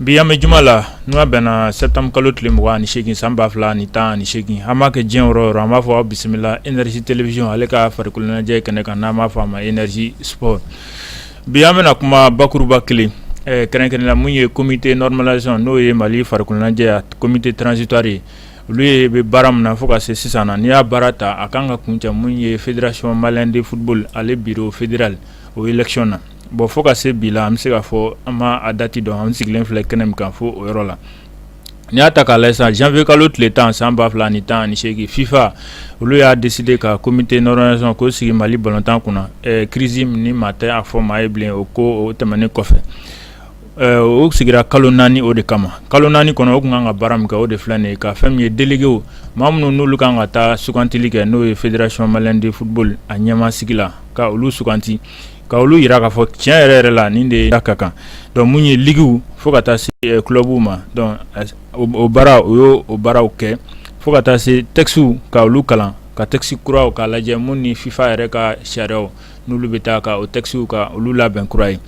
Bi an bɛ juma la n'o bɛnna septembre kalo tile mugan ani segin san ba fila ni tan ani segin an b'a kɛ diɲɛ yɔrɔ an b'a fɔ aw bisimila Énergie télévision ale ka farikoloɲɛnajɛ kɛnɛ kan n'an b'a fɔ a ma Énergie sport Bi an bɛna kuma bakuruba kelen kɛrɛnkɛrɛn la min ye comité normalisation n'o ye mali farikoloɲɛnajɛ comité transitoire ye olu ye bɛ baara min na fo ka se sisan na n'i y'a baara ta a kan ka kuncɛ min ye fédération malienne de football ale bureau fédéral o élection na bon fo ka se bi la an bɛ se k'a fɔ an ma a dati dɔn an sigilen filɛ kɛnɛ min kan fo o yɔrɔ la N'i y'a ta k'a lajɛ sisan janvier kalo tile tan san ba fila ni tan ni segin fifa olu y'a décidé ka comité normalisation k'o sigi mali balontan kunna crise nin maa tɛ a fɔ maa ye bilen o ko o tɛmɛnen kɔfɛ o sigira kalo naani o de kama kalo naani kɔnɔ o kun kan ka baara min kɛ o de filɛ nin ye ka fɛn min ye déléguéw maa minnu n'olu kan ka taa sugantili kɛ n'o ye fédération malienne de football a ɲɛmaasigi la ka olu suganti ka olu yira k'a fɔ tiɲɛ yɛrɛ yɛrɛ la nin de ka kan donc mun ye ligiw fo ka taa se kulɔbuw euh, ma donc o baara o y'o o baaraw kɛ fo ka taa se textiw ka olu kalan ka texte kuraw k'a lajɛ mun ni fifa yɛrɛ ka sariyaw n'olu bɛ taa ka o textiw ka olu labɛn kura ye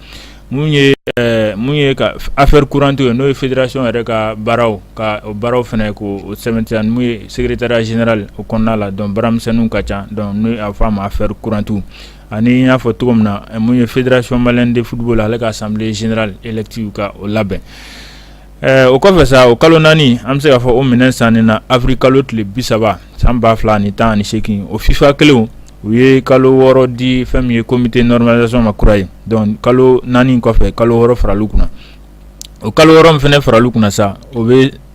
mun ye euh, mun ye ka affaire courante ye n'o ye fédération yɛrɛ ka baaraw ka o baaraw fɛnɛ k'o sɛbɛntiya mun ye secrétariat général o kɔnɔna la donc baaramisɛnninw ka ca donc n'o a fɔ a ma affaire courantew ani n y'a fɔ cogo min na mun ye fédération malienne de football ale ka assemblée générale élective ka o labɛn o kɔfɛ sa o kalo naani an bɛ se k'a fɔ o minɛn san nin na avril kalo tile bi saba san ba fila ni tan ni segin o fifa kelen u ye kalo wɔɔrɔ di fɛn min ye comité normalisation ma kura ye donc kalo naani kɔfɛ kalo wɔɔrɔ faral'u kunna o kalo wɔɔrɔ in fɛnɛ faral'u kunna sa o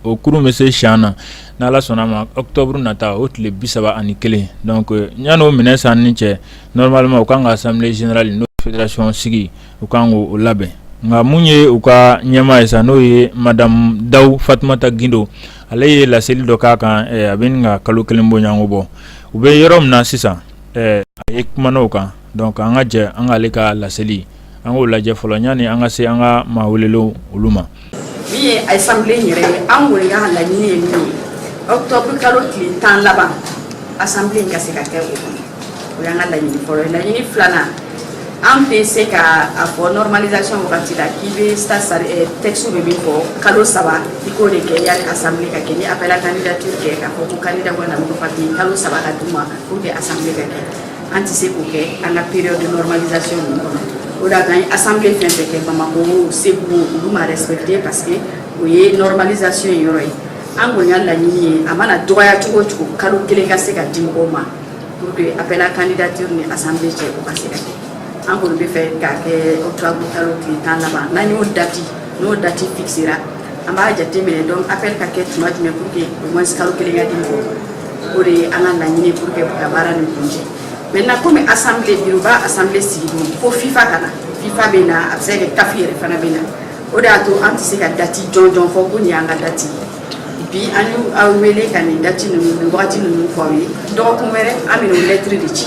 o kurun bɛ se si na ni ala sɔnna a ma octobre nata o tile bi saba ani kelen donc yan n'o minɛ san ni cɛ normalement u kan ka assemblée générale n'o fédération sigi u kan k' o labɛn nka mun ye u ka ɲɛmaa ye sa n'o ye madame Daw Fatumata Gindo ale ye laseli dɔ k'a kan a bɛ ɲini ka kalo kelen bɔɲɔgɔnko bɔ u bɛ yɔrɔ min na sisan a yɛrɛ kumana o kan donc an ka jɛ an k'ale ka laseli an k'o lajɛ fɔlɔ yanni an ka se an ka maa welelenw olu ma min ye assemblée yɛrɛ ye an kɔni ka laɲini ye min ye octobre kalo tile tan laban assemblée ka se ka kɛ o kɔnɔ o y'an ka laɲini fɔlɔ ye laɲini filanan an bɛ se ka a fɔ normalisation wagati la k'i bɛ eh, texte bɛ min fɔ kalo saba i k'o de kɛ yanni assemblée ka kɛ ni appel à candidature kɛ k'a fɔ ko candidat bɔ na papier kalo saba ka d' u ma pour que assemblée ka kɛ An tɛ se k'o kɛ an ka période de normalisation ninnu kɔnɔ, o de y'a to an ye assemblée fɛn o fɛn kɛ Bamakɔ o, Segu o, olu ma respecter parce que o ye normalisation in yɔrɔ ye, an kɔni ka laɲini ye a mana dɔgɔya cogo o cogo kalo kelen ka se ka di mɔgɔw ma pour que appel à candidature ni assemblée cɛ o ka se ka kɛ, an kɔni b'a fɛ k'a kɛ octobre kalo tile tan laban n'an y'o date n'o date fixera an b'a jateminɛ donc appel ka kɛ tuma jumɛn pour que au moins kalo kelen ka di mɔgɔw ma o de ye an ka laɲini pour que ka baara nin kuncɛ maintenant komi assemblée biroba assemblée sigi don fo FIFA ka na FIFA bɛ na a bɛ se ka kɛ CAF yɛrɛ fana bɛ na o de y'a to an tɛ se ka date jɔnjɔn fɔ ko nin y'an ka date ye bi an y'aw wele ka nin date ninnu nin wagati ninnu fɔ aw ye dɔgɔkun wɛrɛ an bɛna o lɛtiri de ci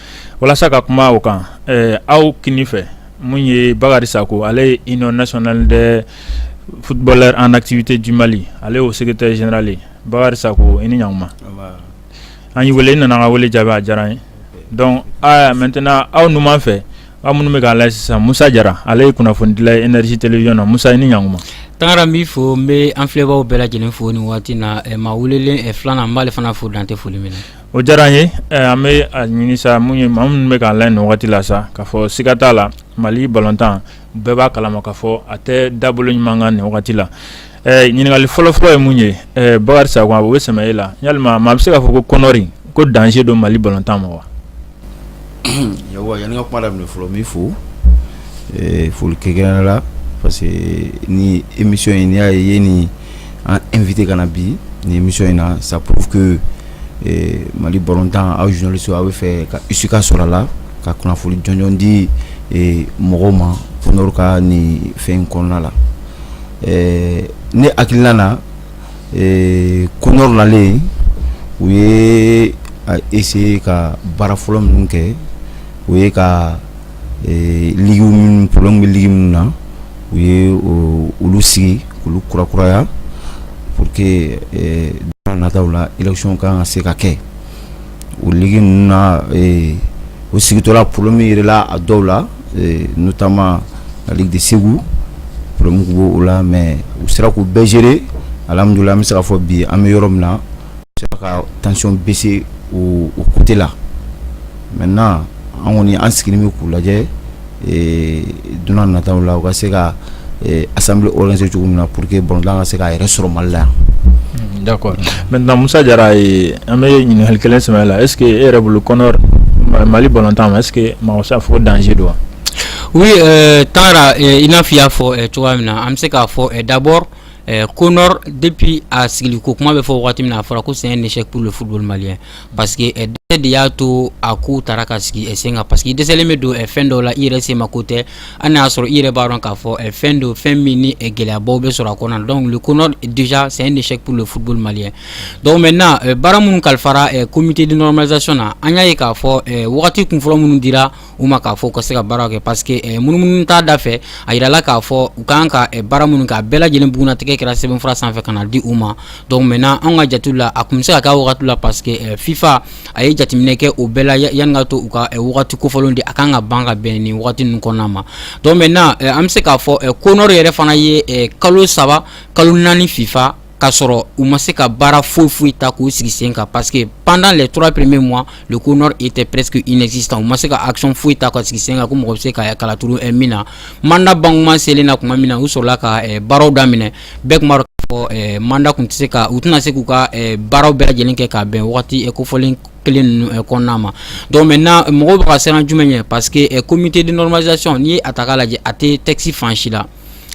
walasa ka kuma o kan aw kinin fɛ mun ye Bakari Sako ale ye union nationale des footballeurs en activité du Mali ale y'o secrétaire général ye Bakari Sako i ni ɲankuma an y'i wele i nana an ka wele jaabi a diyara an ye donc maintenant aw numan fɛ aw minnu bɛ k'an lajɛ sisan Musa Jara ale ye kunnafonidila ye énergie télévision na Musa i ni ɲankuma Tangara n b'i fo n bɛ an filɛbaw bɛɛ lajɛlen fo nin waati na maa welelen filanan n b'ale fana fo dan tɛ foli min na O diyara an ye an bɛ a ɲini sa mun ye maa minnu bɛ k'an lajɛ nin wagati la sa k'a fɔ siga t'a la Mali balontan bɛɛ b'a kalama k'a fɔ a tɛ dabolo ɲuman kan nin wagati la ɲininkali fɔlɔfɔlɔ ye mun ye Bakari Sako o bɛ sɛmɛ e la yalima maa bɛ se k'a fɔ ko CONOR ko danger don Mali balontan ma wa yawwa yanni ka kuma daminɛ fɔlɔ n b'i fo eh, foli kɛrɛnkɛrɛnnen la parce que nin émission in n'i y'a ye i ye nin an inviter ka na bi nin émission in na ça prouve que eh, Mali balontan aw journalistes aw b'a fɛ ka issue ka sɔrɔ a la ka kunnafoni jɔnjɔn di eh, mɔgɔw ma CONOR ka nin fɛn in kɔnɔna la eh, ne hakilina na ee CONOR nalen u ye a essayer ka baara fɔlɔ minnu kɛ o ye ka ligue minnu problème bɛ ligue minnu na u ye olu sigi k'olu kurakuraya pour que don nataw la élection ka kan ka se ka kɛ. o ligue ninnu na ee u sigitɔla problème yirala a dɔw la ee notamment la ligue de Ségou problème tun b'o la mais u sera k'u bɛɛ gérer alhamudulila an bɛ se k'a fɔ bi an bɛ yɔrɔ min na u sera ka tension baisser o côté la maintenant an kɔni an sigilen bɛ k'u lajɛ dunan nata la u ka se ka asa se cogo min na pur que bɔn ka se k' yɛrɛ sɔrɔ mali la yan da mɛ namusa jara an bɛ ye ɲininkakali kelen sɛ la eseke e yɛrɛ bolo kɔnɔ mali bɔntan ma e masa fo danse don wa u ye taara i n'a fɔi y'a fɔ cogoya min na an bɛ se k'a fɔ dabɔ ko depi a sigi ko kuma bɛ fɔ waati min a fɔra ko sen nise pur fu mali ye Parce que dɛsɛ de y'a to a ko taara ka sigi sen kan parce que dɛsɛlen bɛ don fɛn dɔw la i yɛrɛ se ma ko tɛ hali n'a y'a sɔrɔ i yɛrɛ b'a dɔn k'a fɔ fɛn don fɛn min ni gɛlɛyabaw bɛ sɔrɔ a kɔnɔ donc le CONOR déjà c'est un échec pour le football malien donc maintenant baara minnu kalifara comité de normalisation na an y'a ye k'a fɔ wagati kunfɔlɔ minnu dira u ma k'a fɔ u ka se ka baara kɛ parce que munumunu t'a da fɛ a yirala k'a fɔ u kan ka baara minnu kɛ a bɛɛ lajɛlen bugunnatigɛ kɛra sɛbɛnfura sanfɛ ka na di u ma donc maintenant anw ka jate la a tun bɛ se ka k'a wagati la parce que euh, FIFA a ye jateminɛ kɛ o bɛɛ la yanni ka to u ka euh, wagati kofɔlenw di a kan ka ban ka bɛn nin wagati ninnu kɔnɔna ma donc maintenant euh, an bɛ se k'a fɔ CONOR yɛrɛ fana ye kalo saba kalo naani FIFA k'a sɔrɔ u ma se ka baara foyi foyi ta k'u sigi sen kan parce que pendant les trois premiers mois le CONOR était presque inexistant u ma se ka action foyi ta ka sigi sen kan ko mɔgɔ bɛ se ka kala turu eh, min na mandat bankuma selen na tuma min na u sɔrɔla ka eh, baaraw daminɛ bɛɛ tun b'a dɔn k'a fɔ eh, mandat tun tɛ se ka u tɛna se k'u ka baaraw bɛɛ lajɛlen kɛ ka bɛn wagati kofɔlen kelen ninnu eh, kɔnɔna ma donc maintenant mɔgɔw bɛ ka siran jumɛn ɲɛ parce que eh, comité de normalisation n'i ye a ta k'a lajɛ a tɛ texte fan si la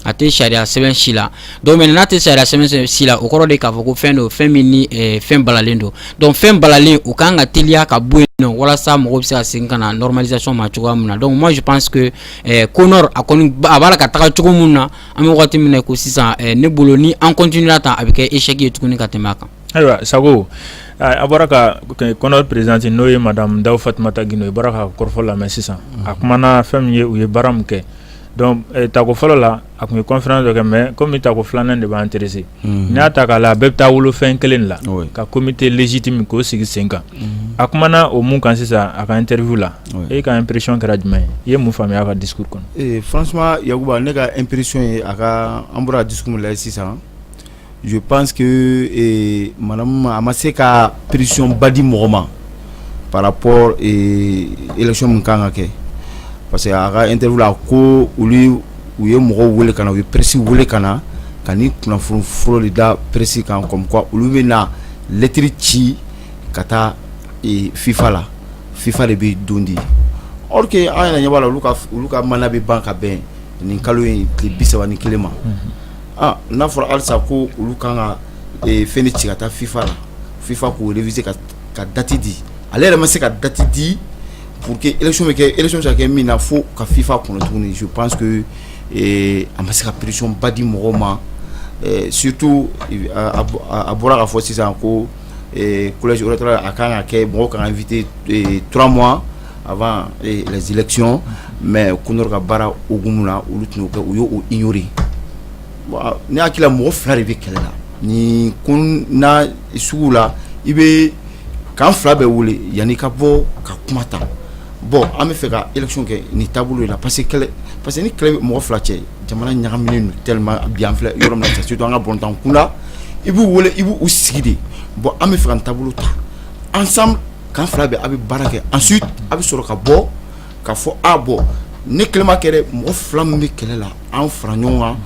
a tɛ sariya sɛbɛn si la donc maintenant n'a tɛ sariya sɛbɛn si la o kɔrɔ de k'a fɔ ko fɛn don fɛn min ni eh, fɛn balalen don donc fɛn balalen o kan ka teliya ka bɔ yen nɔ walasa mɔgɔw bɛ se ka segin ka na normalisation ma cogoya min na donc moi je pense que eh, CONOR a kɔni a b'a la ka taga cogo min na an bɛ wagati min na ko sisan eh, ne bolo ni an continuera tan a bɛ kɛ échec ye tuguni ka tɛmɛ a kan. ayiwa sago a bɔra ka CONOR présidente n'o ye madame dawu fatumata gindo i bɔra ka kɔrɔfɔ lamɛn sisan a kumana fɛn min ye u ye baara min kɛ. Donc tako fɔlɔ la a tun ye conférence dɔ kɛ mais comme tako filanan de bɛ intéresser n'i y'a ta k'a lajɛ a bɛɛ bɛ taa wolo fɛn kelen de la ka comité légitime k'o sigi sen kan a kumana o min kan sisan a ka interview la e ka impression kɛra jumɛn ye i ye mun faamuya a ka discours kɔnɔ franchement Yakuba ne ka impression ye a ka an bɔra ka discours min lajɛ sisan Je pense que madame a ma se ka précision ba di mɔgɔ ma par rapport élection min kan ka kɛ parce que a ka interview la ko olu u ye mɔgɔw weele ka na u ye presse weele ka na ka nin kunnafoni fɔlɔ de da presse kan comme quoi olu bɛ na lettre ci ka taa FIFA la FIFA de bɛ don di or que an yɛrɛ ɲɛ b'a la olu ka mandat bɛ ban ka bɛn nin kalo in tile bisaba ni kelen ma n'a fɔra alisa ko olu kan ka f ci ka taa fifa la fifa k' bɛ se ka dati di ale yɛrɛ ma se ka dati di p que e bɛ kɛ e sa kɛ min na fo ka fifa kun tuguni su panse a ma se ka peresiɔnba di mɔgɔ ma sutu a bɔra ka fɔ sisan ko a kan ka kɛ mɔgɔ kan fitturaura ma Avant les élections mais CONOR ka baara hukumu na olu tun kɛ u y'o ignorer n' hakili la mɔgɔ fila de bɛ kɛlɛ la nin ko sugu la i bɛ camp fila bɛɛ wele yanni ka bɔ ka kuma ta bon an b'a fɛ ka élection kɛ nin taabolo la parce que ni kɛlɛ mɔgɔ fila cɛ jamana ɲagaminen don tellement bi an filɛ yɔrɔ min na surtout an ka balɔntan kunda i b'u wele i b' u sigi de bon an b'a fɛ ka taabolo ta an camp fila bɛɛ a bɛ baara kɛ ensuite a bɛ sɔrɔ ka bɔ k'a fɔ a bon ni kɛlɛma kɛ mɔgɔ fila min bɛ kɛlɛ la an fara ɲɔgɔn kan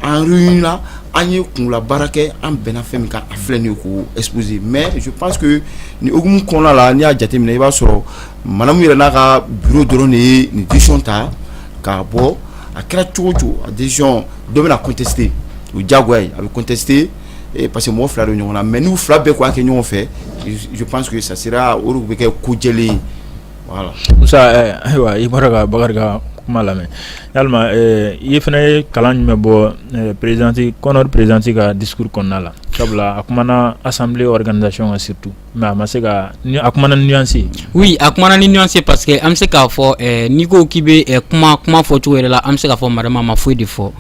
an réunila an ye kunla baara kɛ an bɛnna fɛn min kan a filɛ nin ye k'o exposer mais je pense que nin hukumu kɔnɔna la n'i y'a jateminɛ i b'a sɔrɔ madame yɛrɛ n'a ka bureau dɔrɔn de ye nin décision ta k'a bɔ a kɛra cogo o cogo a décision dɔ bɛna contester o diyagoya ye a bɛ contester e parce que mɔgɔ fila don ɲɔgɔn na mɛ n'u fila bɛɛ k'a kɛ ɲɔgɔn fɛ sike sa sera olu bɛ kɛ ko jɛlen ayiwa i bɔra ka bakari kuma lamɛn ya i fana ye kalan jumɛn bɔ perezti kɔnɛ perezti ka dikurun kɔnɔna la sabula a tumaumana asan wɛrɛ ka dati ka situ Mais a ma se ka a kumana ni nuance oui a kumana ni nuance parce que an bɛ se k'a fɔ n'i ko k'i bɛ kuma fɔ cogo yɛrɛ la an bɛ se k'a fɔ madame ma foyi de fɔ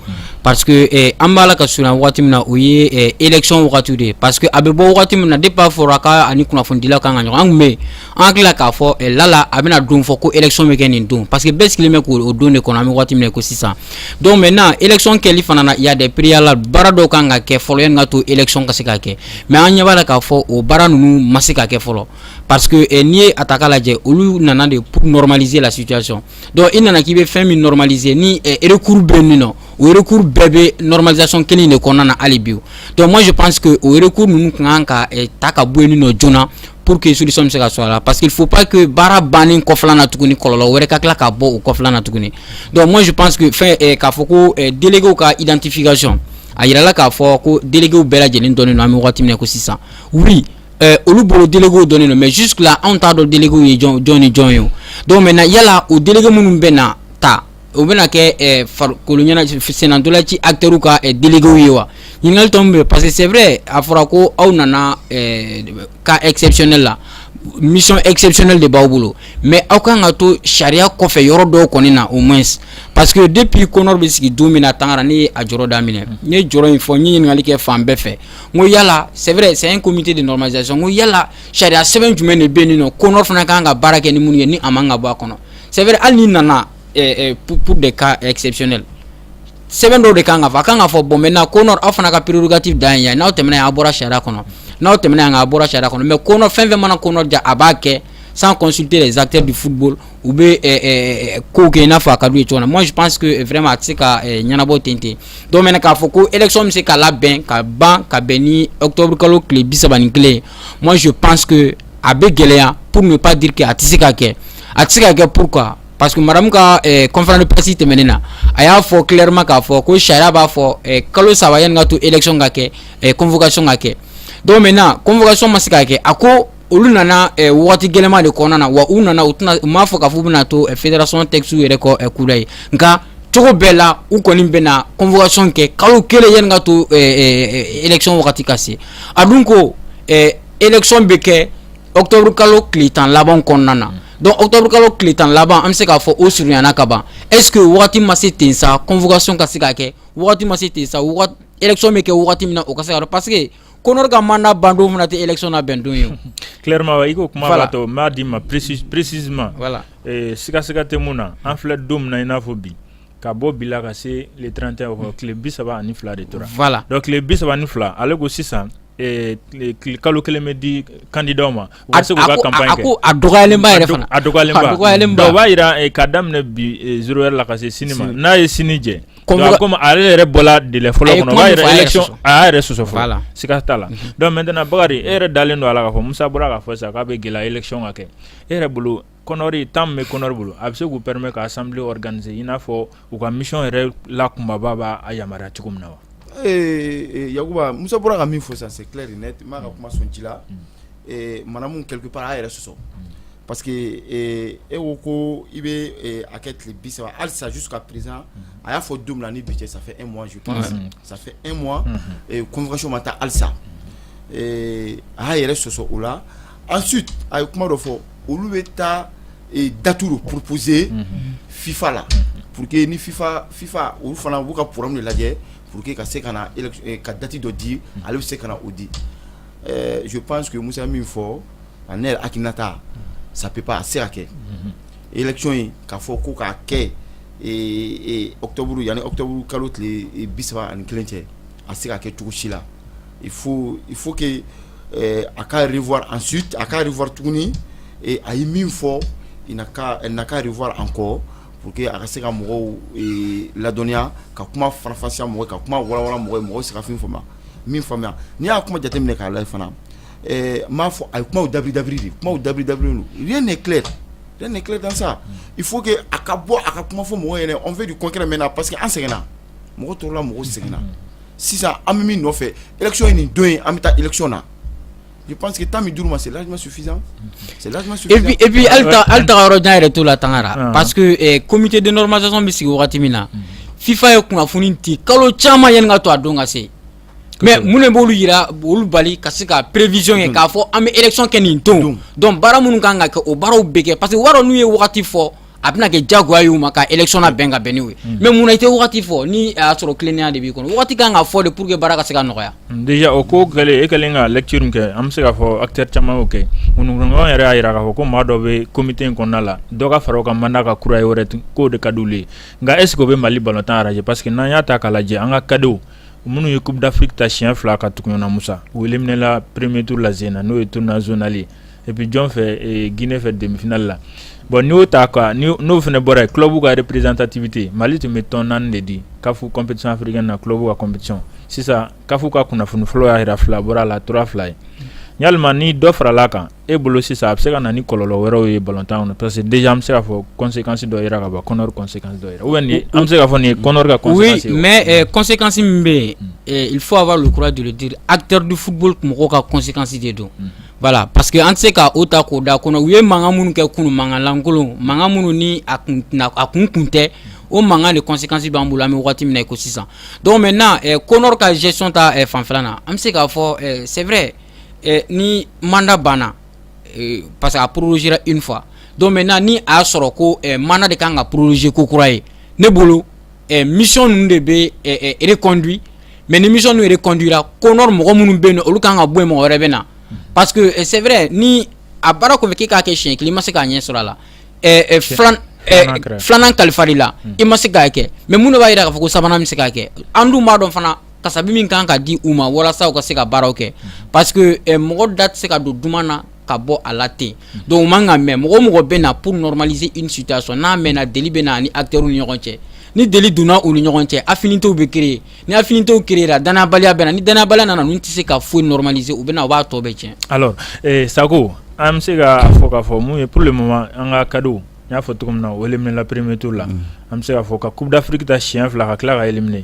parce que an b'a la ka surunya waati min na o ye élection wagati de ye parce que a bɛ bɔ waati min na depuis a fɔra k'a ni kunnafonidila kan ka ɲɔgɔn an bɛ an tila k'a fɔ lala a bɛna don fɔ ko élection bɛ kɛ nin don parce que bɛɛ sigilen bɛ k'o don de kɔnɔ an bɛ waati min na ko sisan donc maintenant élection kɛli fana il y a des préalables baara dɔw kan ka kɛ fɔlɔ n ka to élection ka se ka kɛ mɛ an ɲɛ'a la k'a fɔ o baara ninnu ma se ka kɛ fɔlɔ pa n'i ye a ta lajɛ olu nana de pmalize la sicc i nana k'i bɛ fɛn min malize ni erekuru bɛ min na okuru bɛɛ bɛ nɔrɔmazc kelen de kɔnɔna na hali bi dɔnku si pansseke o yɛrɛurukuru ninnu tun kan ka ta ka bɔ ni nɔ joona na pour que solution bɛ se ka sɔrɔ a la parce qu'il faut pas que baara bannen kɔfɛla na tuguni kɔlɔlɔ wɛrɛ ka tila ka bɔ o kɔfɛla na tuguni donc moi je pense que fɛn eh, k'a fɔ ko eh, délégués ka identification a yirala k'a fɔ ko délégués bɛɛ lajɛlen dɔnnen don an bɛ wagati min na ko sisan oui euh, olu bolo délégués dɔnnen don mais jusque là anw t'a dɔn délégués ye jɔn ni jɔn ye o donc maintenant yala o délégués minnu bɛna ta o bɛna kɛ farikoloɲɛnajɛ sennantolaci acteurw ka déléguéw ye wa ɲininkali tomi bɛ parce que c'est vrai a fɔra ko aw nana cas exceptionnel la mission exceptionnelle de b'aw bolo mais aw ka kan ka to sariya kɔfɛ yɔrɔ dɔw kɔni na au moins parce que depuis CONOR bɛ sigi don min na Tangara n' ye a jɔrɔ daminɛ n ye jɔrɔ in fɔ n ye ɲininkali kɛ fan bɛɛ fɛ n ko yala c'est vrai c'est comité de normalisation ko yala sariya sɛbɛn jumɛn de bɛ nin nɔ CONOR fana ka kan ka baara kɛ ni minnu ye ni a man ka bɔ a kɔnɔ sɛbɛn hali nana de ka sɛbɛn sɛbɛn dɔw de kan ka fɔ a kan ka fɔ bon mɛ na ko aw fana ka ppiririti da yan n'aw tɛmɛna y'a bɔra sariya kɔnɔ n'aw tɛm yan ka bɔra sariya kɔnɔ mɛ ko fɛn fɛn mana kɔnɔ ja a b'a kɛ san kɔnte zate de fu u bɛ ko kɛ n'a fɔ a ka du cogo na mɔz pansseke fɛrɛma a tɛ se ka ɲɛnabɔ ten ten dɔw k'a fɔ ko esɔn bɛ se k'a la bɛn ka ban ka bɛn ni awtouru kalo tile bi saba ni kelen mɔzo pansseke a bɛ gɛlɛya pour ne pas dire que a tɛ se ka kɛ a tɛ se ka kɛ pourquoi parce que madame ka eh, conférence de presse tɛmɛnen na a y'a fɔ clairement k'a fɔ ko sariya b'a fɔ eh, kalo saba yanni ka to élection ka kɛ eh, convocation ka kɛ donc maintenant convocation ma se ka kɛ a ko olu nana eh, wagati gɛlɛma de kɔnɔna na wa u nana u tɛna u m'a fɔ k'a fɔ u bɛna to eh, fédération texte yɛrɛ kɔ eh, kura ye nka cogo bɛɛ la u kɔni bɛna convocation kɛ kalo kelen yanni ka to eh, eh, eh, élection wagati ka se a dun ko eh, élection bɛ kɛ octobre kalo tile tan laban kɔnɔna na donc octobre kalo tile tan laban an bɛ se k'a fɔ o surunyana ka ban est ce que wagati ma se ten sa convocation ka se ka kɛ wagati ma se ten sa élection bɛ kɛ wagati min na o ka se ka dɔn parce que Konor ka mandat ban don fana tɛ élection labɛn don ye clairement i ko kuma b'a to n b'a d'i ma précisément voilà siga siga tɛ mun na an filɛ don min na i n'a fɔ bi ka bɔ bi la ka se le 31 ma tile 32 de tora, voila, donc tile 32 ale ko sisan kalo kelen bɛ di candidat ma u ka se k'u ka campagne kɛ, a ko a dɔgɔyalen ba yɛrɛ fana, a dɔgɔyalen ba, o b'a jira k'a daminɛ bi 0 heure la ka se sini ma n'a ye sini jɛ komi ale yɛrɛ bɔra délai fɔlɔ kɔnɔ o b'a jira élection a y'a yɛrɛ sɔsɔ voila, siga t'a la donc maintenant Bakari e yɛrɛ dalen don a la k'a fɔ Musa bɔra k'a fɔ sisan k'a bɛ gɛlɛya élection ka kɛ e yɛrɛ bolo kɔnɔri tan bɛ kɔnɔri bolo a bɛ se k'u pɛmɛ ka san gananie in n'a fɔ u ka misi yɛrɛ la kunbaba b'a a yamaruya cogo min na wa ee yakuba muso bɔra ka min fo sisan sɛti de ne b'a ka kuma sɔn ci la mara min kɛlɛki pa yɛrɛ sɔsɔ pa que e ko ko i bɛ a kɛ tile bisa alisajsu ka perez a y'a fɔ don ni bi cɛ sa e mɔnz sa e mɔn kɔnkanso ma taa alisa a y'a yɛrɛ sɔsɔ o la ensuite a ye kuma dɔ fɔ olu bɛ taa dati dɔ proposer FIFA la pour que ni FIFA FIFA olu fana b'u ka programme lajɛ pour que ka se ka ka dati dɔ di ale bɛ se ka na o di je pense que Musa min fɔ a ne hakilinata ça peut pas a se ka kɛ élection in k'a fɔ ko k'a kɛ octobre yanni octobre kalo tile bi saba ani ni kelen cɛ A se ka kɛ cogo si la il faut il faut que ɛɛ a ka revoir ensuite a ka revoir tuguni et a ye min fɔ il n'a qu'à elle n'a qu'à revoir encore pour que a ka se ka mɔgɔw ee ladɔnniya ka kuma faranfasiya mɔgɔw ye ka kuma walawala mɔgɔw ye mɔgɔw bɛ se ka fɛn min faamuya min faamuya n'i y'a kuma jateminɛ k'a lajɛ fana ɛɛ n b'a fɔ a ye kumaw dabiri dabiri de kumaw dabiri dabirilen don rien n'est clair rien n'est clair dans ça il faut que a ka bɔ a ka kuma fɔ mɔgɔw ɲɛna on veut du concret maintenant parce que an sɛgɛnna mɔgɔ tɔɔrɔla mɔgɔ sɛgɛnna sisan an bɛ min nɔfɛ élection ye nin don an bɛ taa élection na je pense que temps min dira u ma c'est largement suffisant et puis hali taga yɔrɔ jan yɛrɛ t'o la Tangara parce que comité de normalisation bɛ sigi wagati min na FIFA ye kunnafoni di kalo caman yanni ka to a don ka se mais mun de b'olu jira olu bali ka se ka prévision ye k'a fɔ an bɛ élection kɛ nin don donc baara minnu kan ka kɛ o baaraw bɛ kɛ parce que wara n'u ye wagati fɔ a bɛna kɛ jagoya y'u ma ka élection labɛn ka bɛn n'o ye mais mun na i tɛ wagati fɔ ni a y'a sɔrɔ tilennenya de b'i kɔnɔ wagati ka kan ka fɔ de pour que baara ka se ka nɔgɔya. déjà o ko kɛlen e kɛlen ka lecture min kɛ an bɛ se k'a fɔ acteurs caman y'o kɛ ŋunuŋunukan yɛrɛ y'a jira k'a fɔ ko maa dɔ bɛ comité in kɔnɔna la dɔ ka fara o ka mandat kan kura ye u yɛrɛ tun k'o de ka d'olu ye nka est ce que o bɛ Mali balontan arranger parce que n'an y'a ta k'a lajɛ an ka cadets minnu ye coupe d'Afrique ta siɲɛ fila ka tugu ɲɔgɔn na Musa u éliminer la premier tour la Zen na n'o ye tournoi zonal ye E bɛ jɔn fɛ g fɛ denmisɛnninfinali la bɔn n'o ta n'o fana bɔra yen tulobabu ka yɛrɛ pereztatibi mali tun bɛ tɔn naani de di kafu coptifiri na tulobabu ka copti sisan kafu ka kunnafoni fɔlɔ y'a jira fila bɔra a la tura fila ye ya ni dɔ farala a kan e bolo sisan a bɛ se ka na ni kɔlɔlɔ wɛrɛw ye balotan parce que den bɛ se ka fɔ kɔnsekansi dɔ jira ka bɔ kɔnɛ kɔnse an bɛ se ka fɔ nin kɔnse mɛ kɔnsekansi min bɛ yen fɔ a b'alukura duuru di a terirridifu mɔgɔw ka kɔnsekansi de don voilà parce que an tɛ se k'o ta k'o da CONOR u ye mankan minnu kɛ kunun mankan lankolon mankan minnu ni a kun a kun kun tɛ o mankan de conséquence b'an bolo an bɛ waati min na i ko sisan donc maintenant CONOR ka gestion ta fanfɛla na an bɛ se k'a fɔ c'est vrai ni mandat banna parce que a prorogera une fois donc maintenant ni a y'a sɔrɔ ko mandat de ka kan ka proroger ko kura ye ne bolo ɛ mission ninnu de bɛ ɛ ɛ reconduit mais ni mission ninnu reconduira CONOR mɔgɔ minnu bɛ yen nɔ olu kan ka bɔ yen mɔgɔ wɛrɛ bɛ na parce que ɛ c'est vrai ni a baara confier k'e k'a kɛ siɲɛ kelen i ma se ka ɲɛ sɔrɔ a la ɛ ɛ filan ɛ filanan kalifara i la i ma se k'a kɛ mais mun de b'a jira k'a fɔ ko sabanan bɛ se k'a kɛ an dun b'a dɔn fana kasabi min kan ka di u ma walasa u ka se ka baaraw kɛ parce que ɛ mɔgɔ da tɛ se ka don duman na ka bɔ a la ten donc u man ka mɛn mɔgɔ o mɔgɔ bɛ na pour normaliser une situation n'a mɛnna deli bɛ na a ni acteurs ni ɲɔgɔn cɛ ni deli donna u ni ɲɔgɔn cɛ affinités bɛ créer ni affinités créera dannayabaliya bɛ na ni dannayabaliya nana ninnu tɛ se ka foyi normaliser u bɛ na u b'a tɔ bɛɛ tiɲɛ. alors eh, Sako an bɛ se k'a fɔ k'a fɔ mun ye pour le moment an ka cadets n y'a fɔ cogo min na o éliminer la premier tour la an bɛ se k'a fɔ ka coupe d'Afrique ta siɲɛ fila ka tila ka éliminer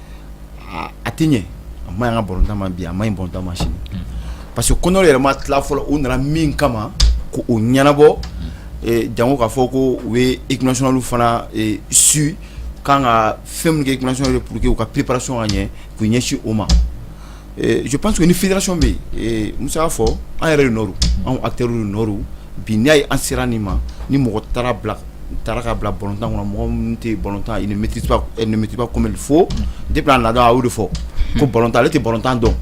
a tɛ ɲɛ a ma ka btan ma bi a ma in bɔnta ma sini parce que koɛ yɛrɛ ma tila fɔlɔ u nana min kama ko u ɲɛnabɔ jango k'a fɔ ko u ye ikli fana su k' kan ka fɛn kɛ iksɔn ye pur que u ka p-prasɔn ka ɲɛ k'u ɲɛsin o ma je pense que ni fédération bɛ yen Musa y'a fɔ an yɛrɛ de nɔ don anw acteurs de nɔ don bi n'i y'a ye an sera nin ma ni mɔgɔ taara ka bila balontan kɔnɔ mɔgɔ minnu tɛ balontan ils ne maîtrisent pas elle ne maîtrise pas comme il faut depuis a nana a y'o de fɔ ko balontan ale tɛ balontan dɔn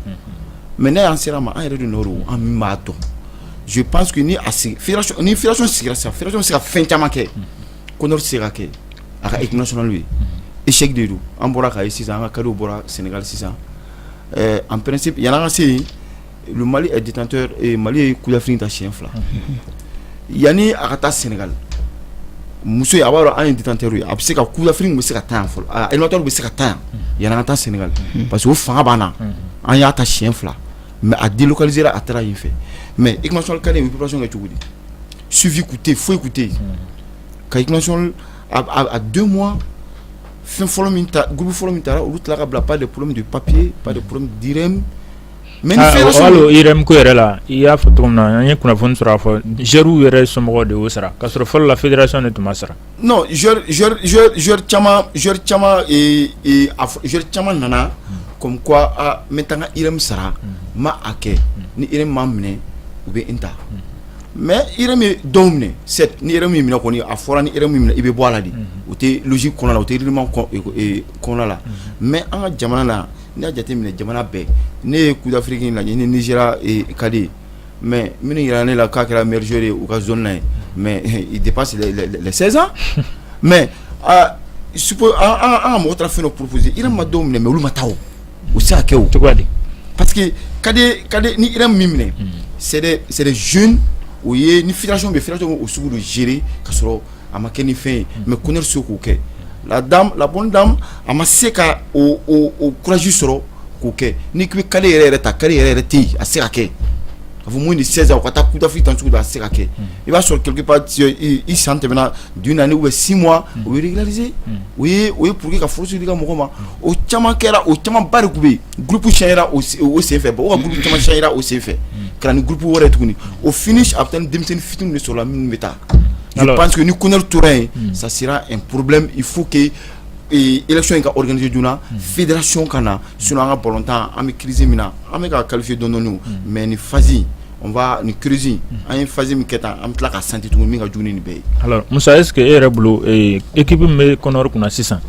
mais n'a y'an sera a ma an yɛrɛ de nɔ don an min b'a dɔn je pense que ni a sigi fédération ni fédération sigira sisan fédération bɛ se ka fɛn caman kɛ. Kɔnɔ tɛ se ka kɛ a ka i tɛnasoninali ye i sɛ de don an bɔra ka ye sisan an ka kari bɔra sengali sisan an pɛsi yala ka se yen mali ditɔ mali ye kufin ta siyɛn fila yanani a ka taa sengali muso a b'a dɔn an ye ditɛ ye a bɛ se ka kufin bɛ se ka tan fɔlɔtɔ bɛ se ka tan yan yanana ka taa sengali parce que fanga banna an y'a ta siyɛn fila mɛ a deli kalisera a taara yen fɛ mɛ i ka sɔrɔ ka bɛ kɛ cogo di suivi tun tɛ yen foyi tun tɛ yen ka équipe nationale à deux mois fɛn fɔlɔ min ta groupe fɔlɔ min taara olu tila ka bila par des problèmes de papier par des problèmes d'IRM mais hali IRM ko yɛrɛ la i y'a fɔ cogo min na an ye kunnafoni sɔrɔ a fɔ joueurs yɛrɛ somɔgɔw de y'o sara k'a sɔrɔ fɔlɔ la fédération de tun b'a sara caman nana ko ko n bɛ taa irami sara ma a kɛ ni e ma minɛ u bɛ n ta mɛ e bɛ dɔw minɛ ni yɛrɛ min minɛ kɔni a fɔra ni minɛ i bɛ bɔ la de u tɛ lusi kɔnɔ la u tɛ iliman kɔnɔ la mɛ an ka jamana la n y'a jate minɛ jamana bɛɛ ne ye kudafiri lajɛ ni ni sera ka di mɛ minnu jira ne la k'a kɛra mizo ye u ka z ye mɛ de pasi sɛsan mɛ su an mɔgɔ taara fɛn porosi i ma don minɛ mɛ olu ma taa u se kɛ o cogoya de pa que ka ka ni min minɛ sɛ z o ye ni firaso bɛ fula cogo o sugu don ziiri ka sɔrɔ a ma kɛ ni fɛn ye mais CONOR se k'o kɛ la bonne dame a ma se ka courage sɔrɔ k'o kɛ ni k'i bɛ cadet yɛrɛ yɛrɛ ta cadet yɛrɛ yɛrɛ tɛ yen a se ka kɛ a fɔ moins de seize ans ka taa Coupe d'Afrique tan cogo di a se ka kɛ i b'a sɔrɔ quelque part i san tɛmɛna d'une année ou bien six mois o régulariser o ye pour que k'a forcer ka mɔgɔ ma o caman kɛra o camanba de tun bɛ yen groupe cira o senfɛ o groupe camanba cira o senfɛ ka ni groupe wɛrɛ tuguni au finish a bɛ taa denmisɛnnin fitiniw de sɔrɔ la minnu bɛ taa Alors, je pense que ni CONOR tora yen mm. ça sera un problème il faut que eh, élection in ka organiser joona mm. fédération ka na sinon an ka balontan an bɛ crise min na an bɛ ka qualifier dɔɔni dɔɔni mm. mais ni phase on va ni crise in mm. an ye phase min kɛ tan an bɛ tila ka sentir tuguni min ka jugu ni nin bɛɛ ye. alors Musa est ce que e yɛrɛ bolo eh, équipe min bɛ CONOR kunna sisan.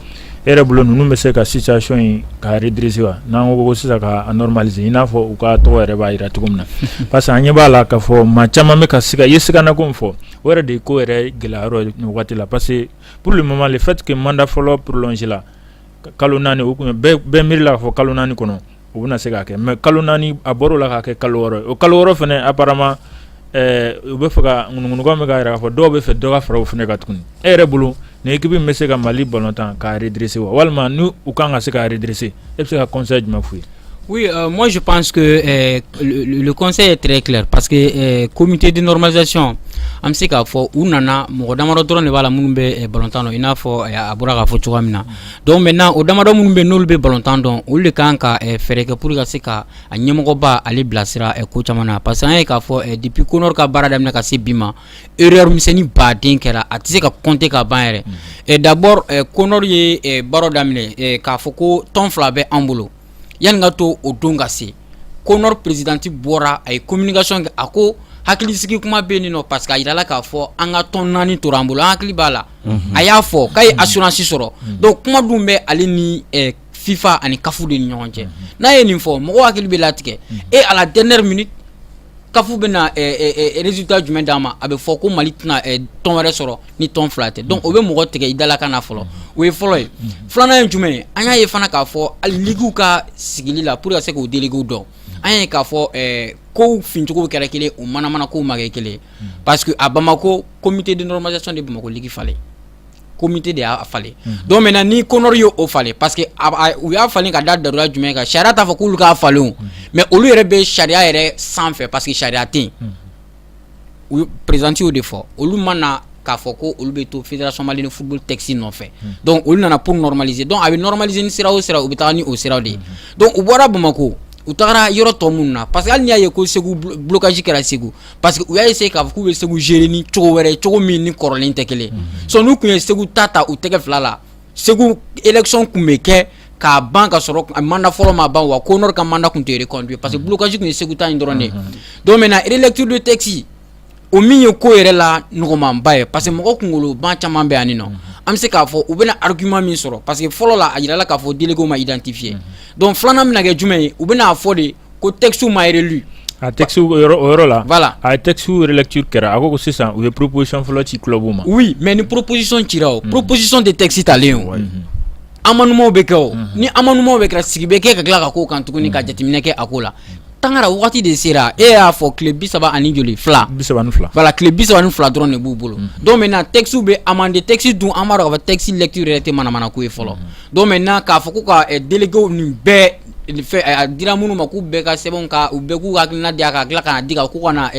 e yɛrɛ bolo ninnu bɛ se ka situation in k'a redresser wa n'an ko ko sisan k'a normaliser i n'a fɔ u ka tɔgɔ yɛrɛ b'a jira cogo min na parce que an ɲɛ b'a la k'a fɔ maa caman bɛ ka siga i ye siganako min fɔ o yɛrɛ de ye ko yɛrɛ gɛlɛya yɔrɔ ye nin wagati la parce que pour le moment le fait que mandat fɔlɔ prolonger la kalo naani o tun ye bɛɛ miiri la k'a fɔ kalo naani kɔnɔ u bɛna se k'a kɛ mɛ kalo naani a bɔra la k'a kɛ kalo o kalo fana ama u bɛ fɛ ka ŋkan bɛ ka yɛrɛ fɔ dɔw bɛ fɛ dɔgɔ faraw fana ka tuguni e yɛrɛ bolo ni ekipbi bɛ se ka mali bɔn tan k'drese wa walima n u kan ka se k'drese e bɛ se ka kɔsɔn jumɛn foyi ye mɔnsi pan que kɔsɔn ye tire ki pa que komte di nɔrɔmazcɔn an bɛ se k'a fɔ u nana mɔgɔ dama dɔrɔn de b'a la minnu bɛ batan i n'a fɔ a bɔra k'a fɔ cogoya min na Donc maintenant o damadɔ minnu bɛ n'olu bɛ balontan dɔn olu de kan ka fɛɛrɛ kɛ pour ka se ka a ɲɛmɔgɔba ale bilasira ko caman na parce que an y'a ye k'a fɔ depuis Kɔnɔri ka baara daminɛ ka se bi ma erreur misɛn ni ba den kɛra a tɛ se ka compter ka ban yɛrɛ et d'abord Kɔnɔri ye baro daminɛ k'a fɔ ko tɔn fila bɛ an bolo yanni ka to o don ka se Kɔnɔri présidente bɔra a ye communication kɛ a ko hakilisigi kuma bɛ nin nɔ parce que a jira la k'a fɔ an ka tɔn naani tora an bolo an hakili b'a la a y'a fɔ k'a ye assurance sɔrɔ donc kuma dun bɛ ale ni FIFA ani CAF de ɲɔgɔn cɛ n'a ye nin fɔ mɔgɔ hakili bɛ latigɛ et à la dernière minute CAF bɛna résultat jumɛn d'a ma a bɛ fɔ ko Mali tɛna tɔn wɛrɛ sɔrɔ ni tɔn fila tɛ donc o bɛ mɔgɔ tigɛ i dalakan na fɔlɔ o ye fɔlɔ ye filanan ye jumɛn ye an y'a ye fana k'a fɔ hali liguew ka sigili la pour que ka se k'u délégués dɔn an y'a ye k'a fɔ kow fincogow kɛra kelen ye u manamana kow ma kɛ kelen ye parce que à Bamako comité de normalisation de ye Bamako ligue falen comité de y'a falen donc maintenant ni Kɔnɔri y'o falen parce que u y'a falen ka da daliluya jumɛn kan sariya t'a fɔ k'olu k'a falen mais olu yɛrɛ bɛ sariya yɛrɛ sanfɛ parce que sariya tɛ yen présidente y'o de fɔ olu ma na k'a fɔ ko olu bɛ to fédération malienne de football texte nɔfɛ donc olu nana pour normaliser donc a bɛ normaliser ni sira o sira u bɛ taa ni o sira de ye donc u bɔra Bamakɔ u taara yɔrɔ tɔ minnu na parce que hali n'i y'a ye ko Segu blocage kɛra Segu parce que u y'a essayer k'a fɔ k'u bɛ Segu gérer ni cogo wɛrɛ ye cogo min ni kɔrɔlen tɛ kelen ye sinon n'u tun ye Segu ta ta u tɛgɛ fila la Segu élection tun bɛ kɛ ka ban ka sɔrɔ a mandat fɔlɔ ma ban wa Kɔnɔri ka mandat tun tɛ reconduit parce que blocage tun ye Segu ta in dɔrɔn de ye donc maintenant relecture de texte o min ye ko yɛrɛ la nɔgɔmanba ye parce que mɔgɔ kunkoloba caman bɛ yan nin nɔ an bɛ se k'a fɔ u bɛna argument min sɔrɔ parce que fɔlɔ la a jirala k'a fɔ délégués ma identifier donc filanan bɛna kɛ jumɛn ye u bɛn'a fɔ de ko texte ma relu a texte o yɔrɔ la voilà a texte relecture kɛra a ko ko sisan u ye proposition fɔlɔ ci club ma oui mais ni proposition cira o mhm. proposition de texte talen o mhm. amendement bɛ kɛ o mhm. ni amendement bɛɛ kɛra sigi bɛ kɛ ka tila ka k'o kan tuguni ka jateminɛ kɛ a ko la Tangara wagati de sera e y'a fɔ tile bi saba ani joli fila bi saba ni fila voilà tile bi saba ni fila dɔrɔn de b'u bolo mm. donc maintenant texte bɛ amendé texte dun an b'a dɔn ka fɔ texte lecture yɛrɛ tɛ manamana ko ye fɔlɔ mm. donc maintenant k'a fɔ ko ka eh, délégués nin bɛɛ a dira minnu ma k'u bɛɛ ka sɛbɛn ka u bɛɛ k'u hakilina di a ka tila ka n'a di k'u ka na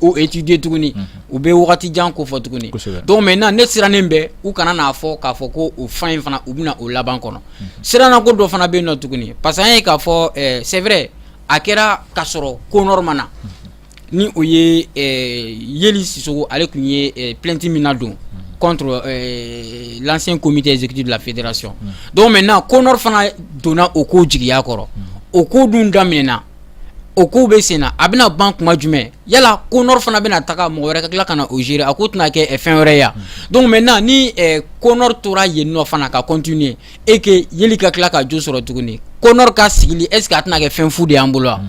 o étudier tuguni u bɛ waati jan ko fɔ tuguni donc maintenant ne sirannen bɛ u kana n'a fɔ k'a fɔ ko o fan in fana u bɛna o laban kɔnɔ siranna ko dɔ fana bɛ yen nɔ tuguni parce que an ye k'a fɔ c'est vrai a kɛra ka sɔrɔ Conor ma na ni o ye Yeli Sissoko ale tun ye plainte min nadon contre l'ancien comité exécutif de la fédération donc maintenant Conor fana donna o ko jigiya kɔrɔ o ko dun daminɛna o ko bɛ sen na a bɛna ban kuma jumɛn yala Conor fana bɛna taga mɔgɔ wɛrɛ ka tila ka na o gérer a ko tɛna kɛ fɛn wɛrɛ ye wa donc maintenant ni Conor tora yen nɔ fana ka continuer et que Yeli ka tila ka jo sɔrɔ tuguni Conor ka sigili est-ce qu'a tɛna kɛ fɛn fu de y'an bolo wa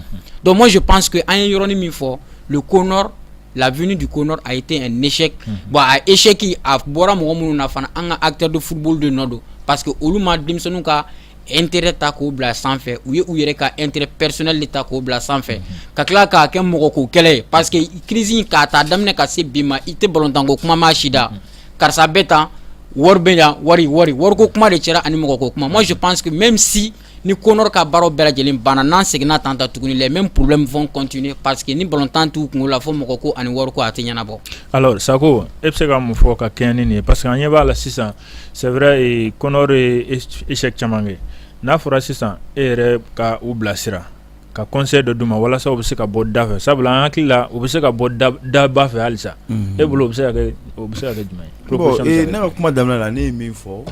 donc moi je pense que an ye yɔrɔnin min fɔ le Conor la venue du Conor a été un échec bon a échec in a bɔra mɔgɔ minnu na fana an ka acteurs de football de nɔ don parce que olu ma denmisɛnninw ka intérêt ta k'o bila sanfɛ u ye u yɛrɛ ka intérêt personnel de ta k'o bila sanfɛ ka tila k'a kɛ mɔgɔ ko kɛlɛ ye parce que crise in k'a ta daminɛ ka se bi ma i tɛ balontan ko kuma mɛn si da karisa bɛ taa wari bɛ yan wari wari wari ko kuma de cayara ani mɔgɔ ko kuma moi je pense que même si ni Conor ka baaraw bɛɛ lajɛlen banna n'an seginna tan ta tuguni les mêmes problèmes vont continuer parce que ni balontan t'u kunko la fo mɔgɔ ko ani wari ko a tɛ ɲɛnabɔ. Alors Sako e bɛ se ka mun fɔ ka kɛɲɛ ni nin ye parce que an ɲɛ b'a la sisan c'est vrai Conor ye échec caman kɛ n'a fɔra sisan e yɛrɛ ka u bilasira ka conseil dɔ d'u ma walasa u bɛ se ka bɔ da fɛ sabula an hakili la u bɛ se ka bɔ daba fɛ halisa e bolo o bɛ se ka kɛ jumɛn ye bon ne ka kuma daminɛ la ne ye min fɔ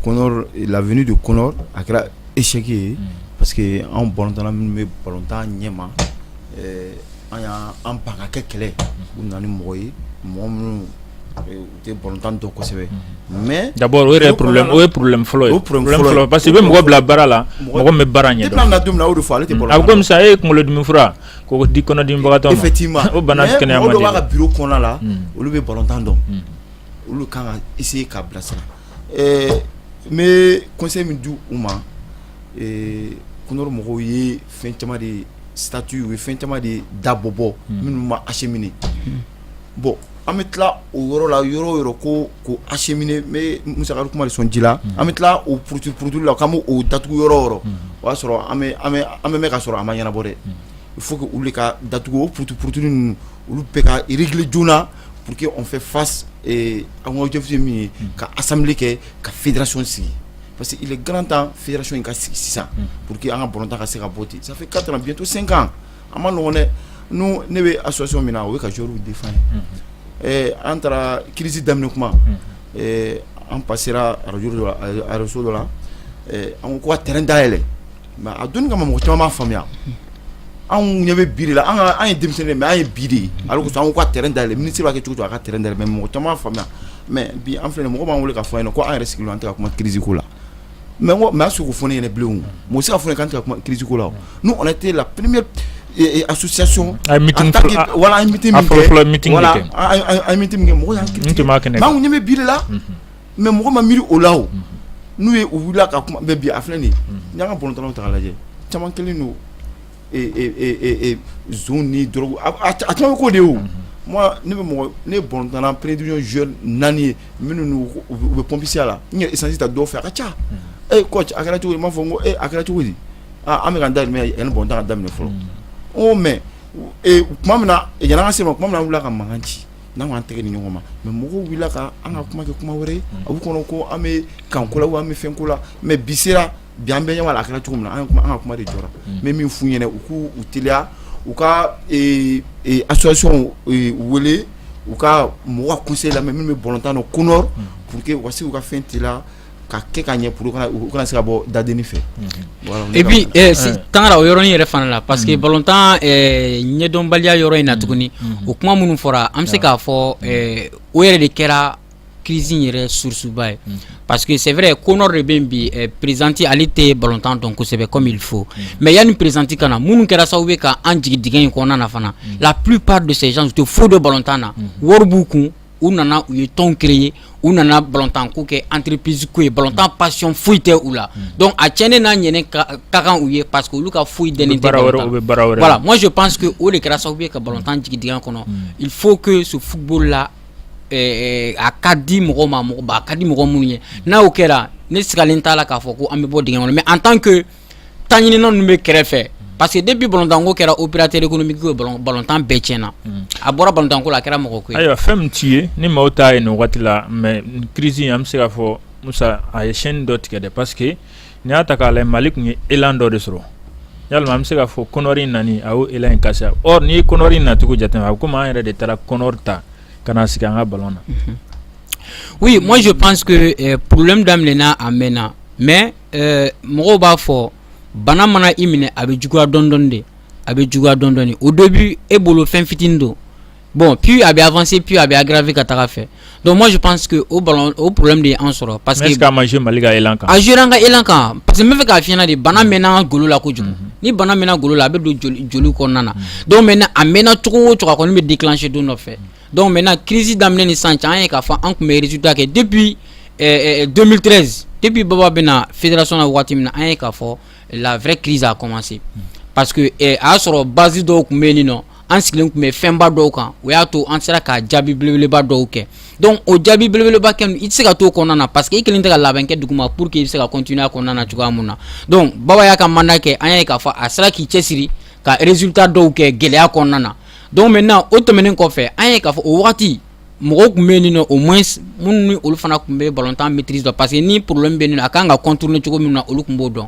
Conor la venue de Conor a kɛra échec ye parce que anw balontanna minnu bɛ balontan ɲɛma an y'an ban ka kɛ kelen u nana ni mɔgɔ ye mɔgɔ minnu U btan to kosɛbɛ mɛ da o yɛrɛ o ye porolen fɔlɔ ye poro parce que bɛ mɔgɔ bila baara la mɔgɔ bɛ baara ɲɛ na don o fɔ ale tɛ bolo a kɔmimisa e ye kunkolo diminfura ko di kɔnɔdimɔgɔ fɛ t'i ma o bana kɛnɛya ka bi kɔnɔna la olu bɛ balotan dɔn olu kan ka i sigi ka bilasira ɛɛ n bɛ kɔse min di u ma ko mɔgɔw ye fɛn caman de ye sati u ye fɛn caman de ye dabɔbɔ minnu ma ase minɛ bɔn an bɛ tila o yɔrɔ la yɔrɔ yɔrɔ ko ko a musokuma sɔn ji la an bɛ tila o porotu porotu la k'an oo datugu yɔrɔ yɔrɔ o y'a sɔrɔ an bɛ ka sɔrɔ a ma ɲɛnabɔ dɛ fo que wuli ka datugu o ptu porotu ninnu olu bɛ ka yirili joona p que fɛ fa an kajfi min ye ka asanm kɛ ka firason sigi parce que garantan firaso in ka sigi sisan pur que an ka bɔta ka se ka bɔ ten sanfɛ ka bitɔnto senkan a man nɔgɔ dɛ nous ne bɛ association min na o ye ka joueurs défendre an taara crise daminɛ kuma an passera araj arajoso dɔ la an ko ka terrain dayɛlɛ mais a dun kama ma mɔgɔ caman m'a faamuya anw ɲɛ bɛ bi de la an ye denmisɛnnin mais an ye bi de ye a ko an ka terrain dayɛlɛ ministre b'a kɛ cogo o cogo a ka terrain dayɛlɛ mais mɔgɔ caman m'a faamuya mais bi an filɛ mɔgɔ b'an wele k'a fɔ an ɲɛna ko an yɛrɛ sigilen an tɛ ka kuma crise ko la mɛ ko mɛ sugu fɔ ɲɛna bilen mu se fana kan kiiritigiw la n'u kɔni tɛ la p a suya sɔn wala miti mɔgɔ bɛ bila mɛ mɔgɔ ma miiri o la n'u ye u wili ka kuma bɛɛ bi a filɛ nin n' ka bɔn dɔrɔn ta lajɛ caman kelen don ni dɔrɔgu a caman bɛ k'o de ye o ne bɛ mɔgɔ ne ye balontanna première division joueur naani ye minnu u bɛ pompisiya la n ye essence ta dɔw fɛ a ka ca e coach a kɛra cogo di n b'a fɔ ko a kɛra cogo di aaa an bɛ ka da yanni balontan ka daminɛ fɔlɔ o mais tuma min na yanni an ka se ma tuma min na an wulila ka mankan ci n'an ka an tɛgɛ di ɲɔgɔn ma mais mɔgɔw wulila ka an ka kuma kɛ kuma wɛrɛ ye a b'u kɔnɔ ko an bɛ kanko la an bɛ fɛn ko la mais bi bi an bɛ ɲɛ la a kɛra cogo min na an kuma an ka kuma de jɔra mais min f'u ɲɛna u k'u teliya u ka association wele u ka mɔgɔ ka conseil lamɛn minnu bɛ balontan dɔn CONOR pour que u ka se k'u ka fɛn tila k'a kɛ ka ɲɛ pour u kana se ka bɔ dadennin fɛ et puis Tangara o yɔrɔ in yɛrɛ fana la parce que balontan ɲɛdɔnbaliya yɔrɔ in na tuguni o kuma minnu fɔra an bɛ se k'a fɔ o yɛrɛ de kɛra crise in yɛrɛ source-ba ye parce que c'est vrai CONOR de bɛ yen bi présidente ale tɛ balontan dɔn kosɛbɛ comme il faut mais yanni présidente ka na minnu kɛra sababu ye ka an jigin dingɛ in kɔnɔna na fana la plupart de ces gens u tɛ foyi dɔn balontan na wari b'u kun u nana u ye tɔn créer u nana balontan ko kɛ entreprise ko ye balontan passion foyi tɛ u la donc a tiɲɛnen n'a ɲɛnen ka kan u ye parce que olu ka foyi dɛnnen tɛ baara wɛrɛ balontan u bɛ baara wɛrɛ la. voilà moi je pense que o de kɛra sababu ye ka balontan jigin dingɛ kɔnɔ il faut que ce football là ɛɛ a ka di mɔgɔ ma mɔgɔ ba a ka di mɔgɔ minnu ye n'a o kɛra ne sigalen t'a la k'a fɔ ko an bɛ bɔ dingɛ kɔnɔ mais en tant que taɲinina ninnu bɛ kɛrɛfɛ parce que depuis balontan ko kɛra opérateur économique ye balontan bɛɛ tiɲɛna a bɔra balontan ko la a kɛra mɔgɔ ko ye ayiwa fɛn min t'i ye ni maaw t'a ye nin waati la mais nin crise in an bɛ se k'a fɔ Musa a ye chaîne dɔ tigɛ dɛ parce que N'i y'a ta k'a lajɛ Mali tun ye élan dɔ de sɔrɔ yalima an bɛ se k'a fɔ Conor in nani a y'o élan in casser or n'i ye Conor in nacogo jateminɛ a bɛ komi an yɛrɛ de taara Conor ta ka na sigi an ka ballon na oui moi je pense que problème daminɛna a mɛnna mais mɔgɔw b'a fɔ bana mana i minɛ a bɛ juguya dɔɔni dɔɔni de a bɛ juguya dɔɔni dɔɔni de au début e bolo fɛn fitinin don Bon, puis a bɛ avancer, puis a bɛ aggraver ka taga fɛ. Donc moi je pense que o bana o problème de ye an sɔrɔ parce que mais est-ce que a ma jouer Mali ka élan kan? A jouer an ka élan kan parce que n bɛ fɛ k'a f'i ɲɛna de bana mɛnna golo la kojugu. Mhm. Ni bana mɛnna golo la a bɛ don joli joli kɔnɔna na. Mhm. Donc maintenant a mɛnna cogo o cogo a kɔni bɛ déclencher don dɔ fɛ. Donc maintenant crise daminɛ ni sisan cɛ an ye k'a fɔ an tun bɛ résultat kɛ depuis ɛɛ 2013 depuis Baba bɛna fédération na waati min na an ye k'a fɔ la vraie crise a commencé parce que eh, a y'a sɔrɔ base dɔw tun bɛ yen nɔ an sigilen tun bɛ fɛnba dɔw kan o y'a to an sera ka jaabi belebeleba dɔw kɛ donc o jaabi belebeleba kɛ i tɛ se ka t'o kɔnɔna na parce que i kɛlen tɛ ka labɛn kɛ duguma pour que i bɛ se ka continuer a kɔnɔna na cogoya min na donc Baba y'a ka mandat kɛ an y'a ye k'a fɔ a sera k'i cɛsiri ka résultat dɔw kɛ gɛlɛya kɔnɔna na donc maintenant o tɛmɛnen kɔfɛ an y'a ye k'a fɔ o wagati mɔgɔw tun bɛ yen nɔ au moins minnu ni olu fana tun bɛ balontan maîtrise dɔn parce que ni problème bɛ yen nɔ a kan ka contourner cogo min na olu tun b'o dɔn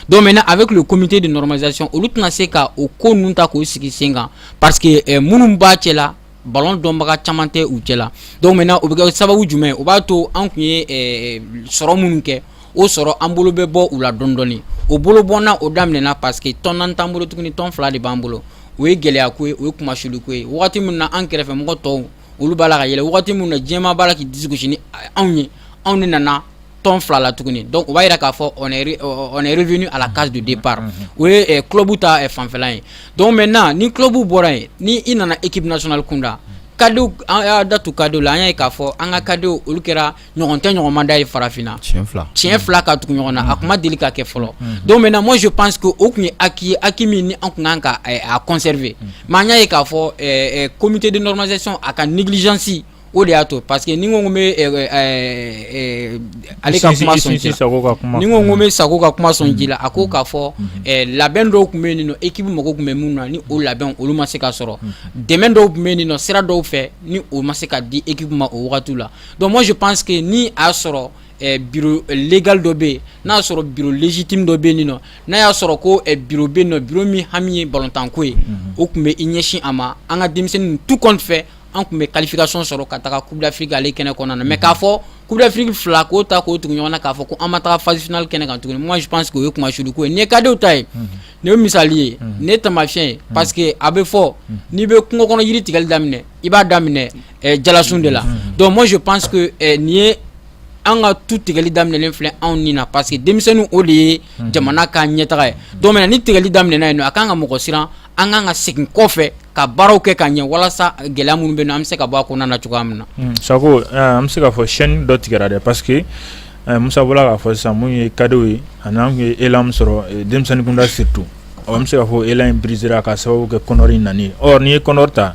donc maintenant avec le comité de normalisation olu tɛna se ka o ko ninnu ta k'o sigi sen kan parce que minnu b'a cɛ la ballon dɔnbaga caman tɛ u cɛ la donc maintenant o bɛ kɛ sababu jumɛn o b'a to an tun ye sɔrɔ minnu kɛ o sɔrɔ an bolo bɛ bɔ u la dɔɔni dɔɔni o bolo bɔnna o daminɛna parce que tɔn naani t'an bolo tuguni tɔn fila de b'an bolo o ye gɛlɛya ko ye o ye kumasuli ko ye waati min na an kɛrɛfɛ mɔgɔ tɔw olu b'a la ka yɛlɛn waati min na diɲɛmaa b'a la k'i disi gosi ni anw ye anw de nana tɔn fila la tuguni donc o b'a jira k'a fɔ on est on est revenu à la case de départ unhun, o ye ɛ club ta ɛ fanfɛla ye donc maintenant ni club bɔra yen ni i nana équipe nationale kunda cadet an y'a da tu cadetw la an y'a ye k'a fɔ an ka cadetw olu kɛra ɲɔgɔn tɛ ɲɔgɔn ma da ye Farafinna siɲɛ fila ka tugu ɲɔgɔn na a tun ma deli ka kɛ fɔlɔ donc maintenant moi je pense que o tun ye acquis ye acquis min ni an tun kan ka a conserver mais an y'a ye k'a fɔ comité de normalisation a ka négligence o de y'a to parce que ni ko n bɛ ale ka kuma ni ko n bɛ Sako ka kuma sɔn ji la a ko k'a fɔ labɛn dɔw tun bɛ yen nɔ équipe mako tun bɛ min na ni o labɛn olu ma se ka sɔrɔ dɛmɛ dɔw tun bɛ yen nɔ sira dɔw fɛ ni o ma se ka di équipe ma o wagati la Donc moi je pense que ni a y'a sɔrɔ eh, bureau eh, légal dɔ bɛ yen n'a y'a sɔrɔ bureau légitime dɔ bɛ yen nɔ n'a y'a sɔrɔ ko eh, bureau bɛ yen nɔ bureau min hami ye balontanko ye mhm. o tun bɛ i ɲɛsin a ma an ka denmisɛnninw tout compte fait an tun bɛ qualification sɔrɔ ka taga Coupe d'Afrique ale kɛnɛ kɔnɔna na mais mhm. k'a fɔ Coupe d'Afrique fila k'o ta k'o tugu ɲɔgɔn na k'a fɔ ko an ma taga phase finale kɛnɛ kan tuguni moi je pense que o ye kumasuli ko ye nin ye kadew ta ye mhm. nin ye misali ye nin ye taamasiyɛn ye parce que a bɛ fɔ n'i bɛ kungo kɔnɔ yiri tigɛli daminɛ i b'a daminɛ jalasun de la donc moi je pense que nin ye an ka tu tigɛli daminɛlen filɛ anw ni na parce que denmisɛnninw o de ye jamana ka ɲɛtaga ye donc maintenant ni tigɛli daminɛna yen nɔ a kan ka mɔgɔ siran an kan ka segin kɔfɛ ka baaraw kɛ ka ɲɛ walasa gɛlɛya minnu bɛ yen nɔ an bɛ se ka bɔ a kɔnɔna na cogoya min na Sako an bɛ se k'a fɔ chaîne dɔ tigɛra dɛ parce que Musa bɔla k'a fɔ sisan min ye cadetw ye ani an ye élan min sɔrɔ denmisɛnninkunda surtout an bɛ se k'a fɔ élan in briséra ka sababu kɛ CONOR nani ye or nin ye CONOR ta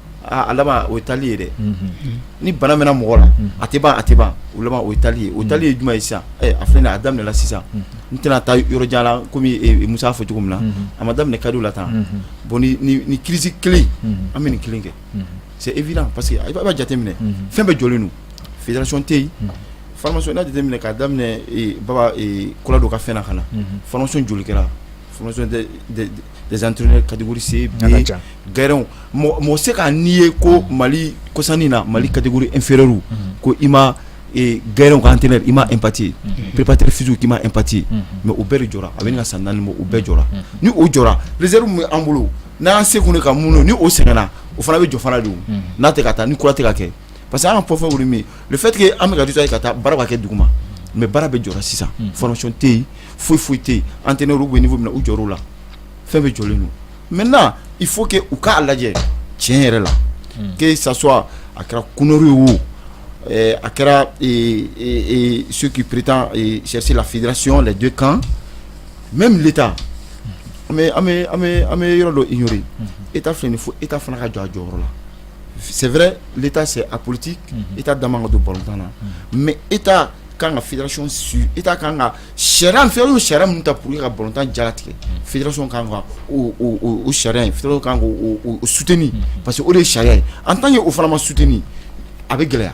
aaa a laban o tali ye dɛ ni bana mɛnna mɔgɔ la a tɛ ban a tɛ ban o tali o tali ye jumɛn ye sisan a filɛ a daminɛla sisan n tɛna taa yɔrɔ jan la kɔmi Musa y'a fɔ cogo min na a ma daminɛ cadetw la tan bon ni crise kelen an bɛ nin kelen kɛ c'est évident parce que i b'a jateminɛ fɛn bɛɛ jɔlen don fédération tɛ yen formation n'a jateminɛ k'a daminɛ Baba Kolado ka fɛn ka na formation joli kɛra Zanturu kadise gɛrɛw mɔgɔ se ka n'i ye ko mali kosan na mali kadi e feereerero ko i ma gɛrɛw kan tɛ i ma epti ppteri fisi k'i ma epti mɛ u bɛɛ jɔ a bɛ ka san naani u bɛɛ jɔ ni o jɔ zriw bɛ an bolo n'an se ka mun ni o sɛgɛnna o fana bɛ jɔfana don n'a tɛ ka taa ni kura tɛ ka kɛ parce que an ka fɔfɔ min le fait que an bɛ ka ye ka taa baara bɛ kɛ duguma mais baara bɛɛ jɔra sisan formation tɛ yen foyi foyi tɛ yen entraîneur bɛ niveau min na u jɔr'o la fɛn bɛɛ jɔlen don maintenant il faut que u k'a lajɛ tiɲɛ yɛrɛ la que ça soit a kɛra CONOR ye o eh, a kɛra eh, eh, ceux qui prétendent chercher la fédération les deux camps même l'État an bɛ yɔrɔ dɔ ignorer État filɛ nin ye fo État fana ka jɔ a jɔyɔrɔ la sɛɛrɛ se a politi i da don bɔtan na mɛ e ka kan ka firac su e ka kan ka sɛ fɛn sariya min ta pur ka bɔntan jaratigɛ fi sariya kan sutini parce que o de ye sariya ye an tan ye o fana ma sutini a bɛ gɛlɛya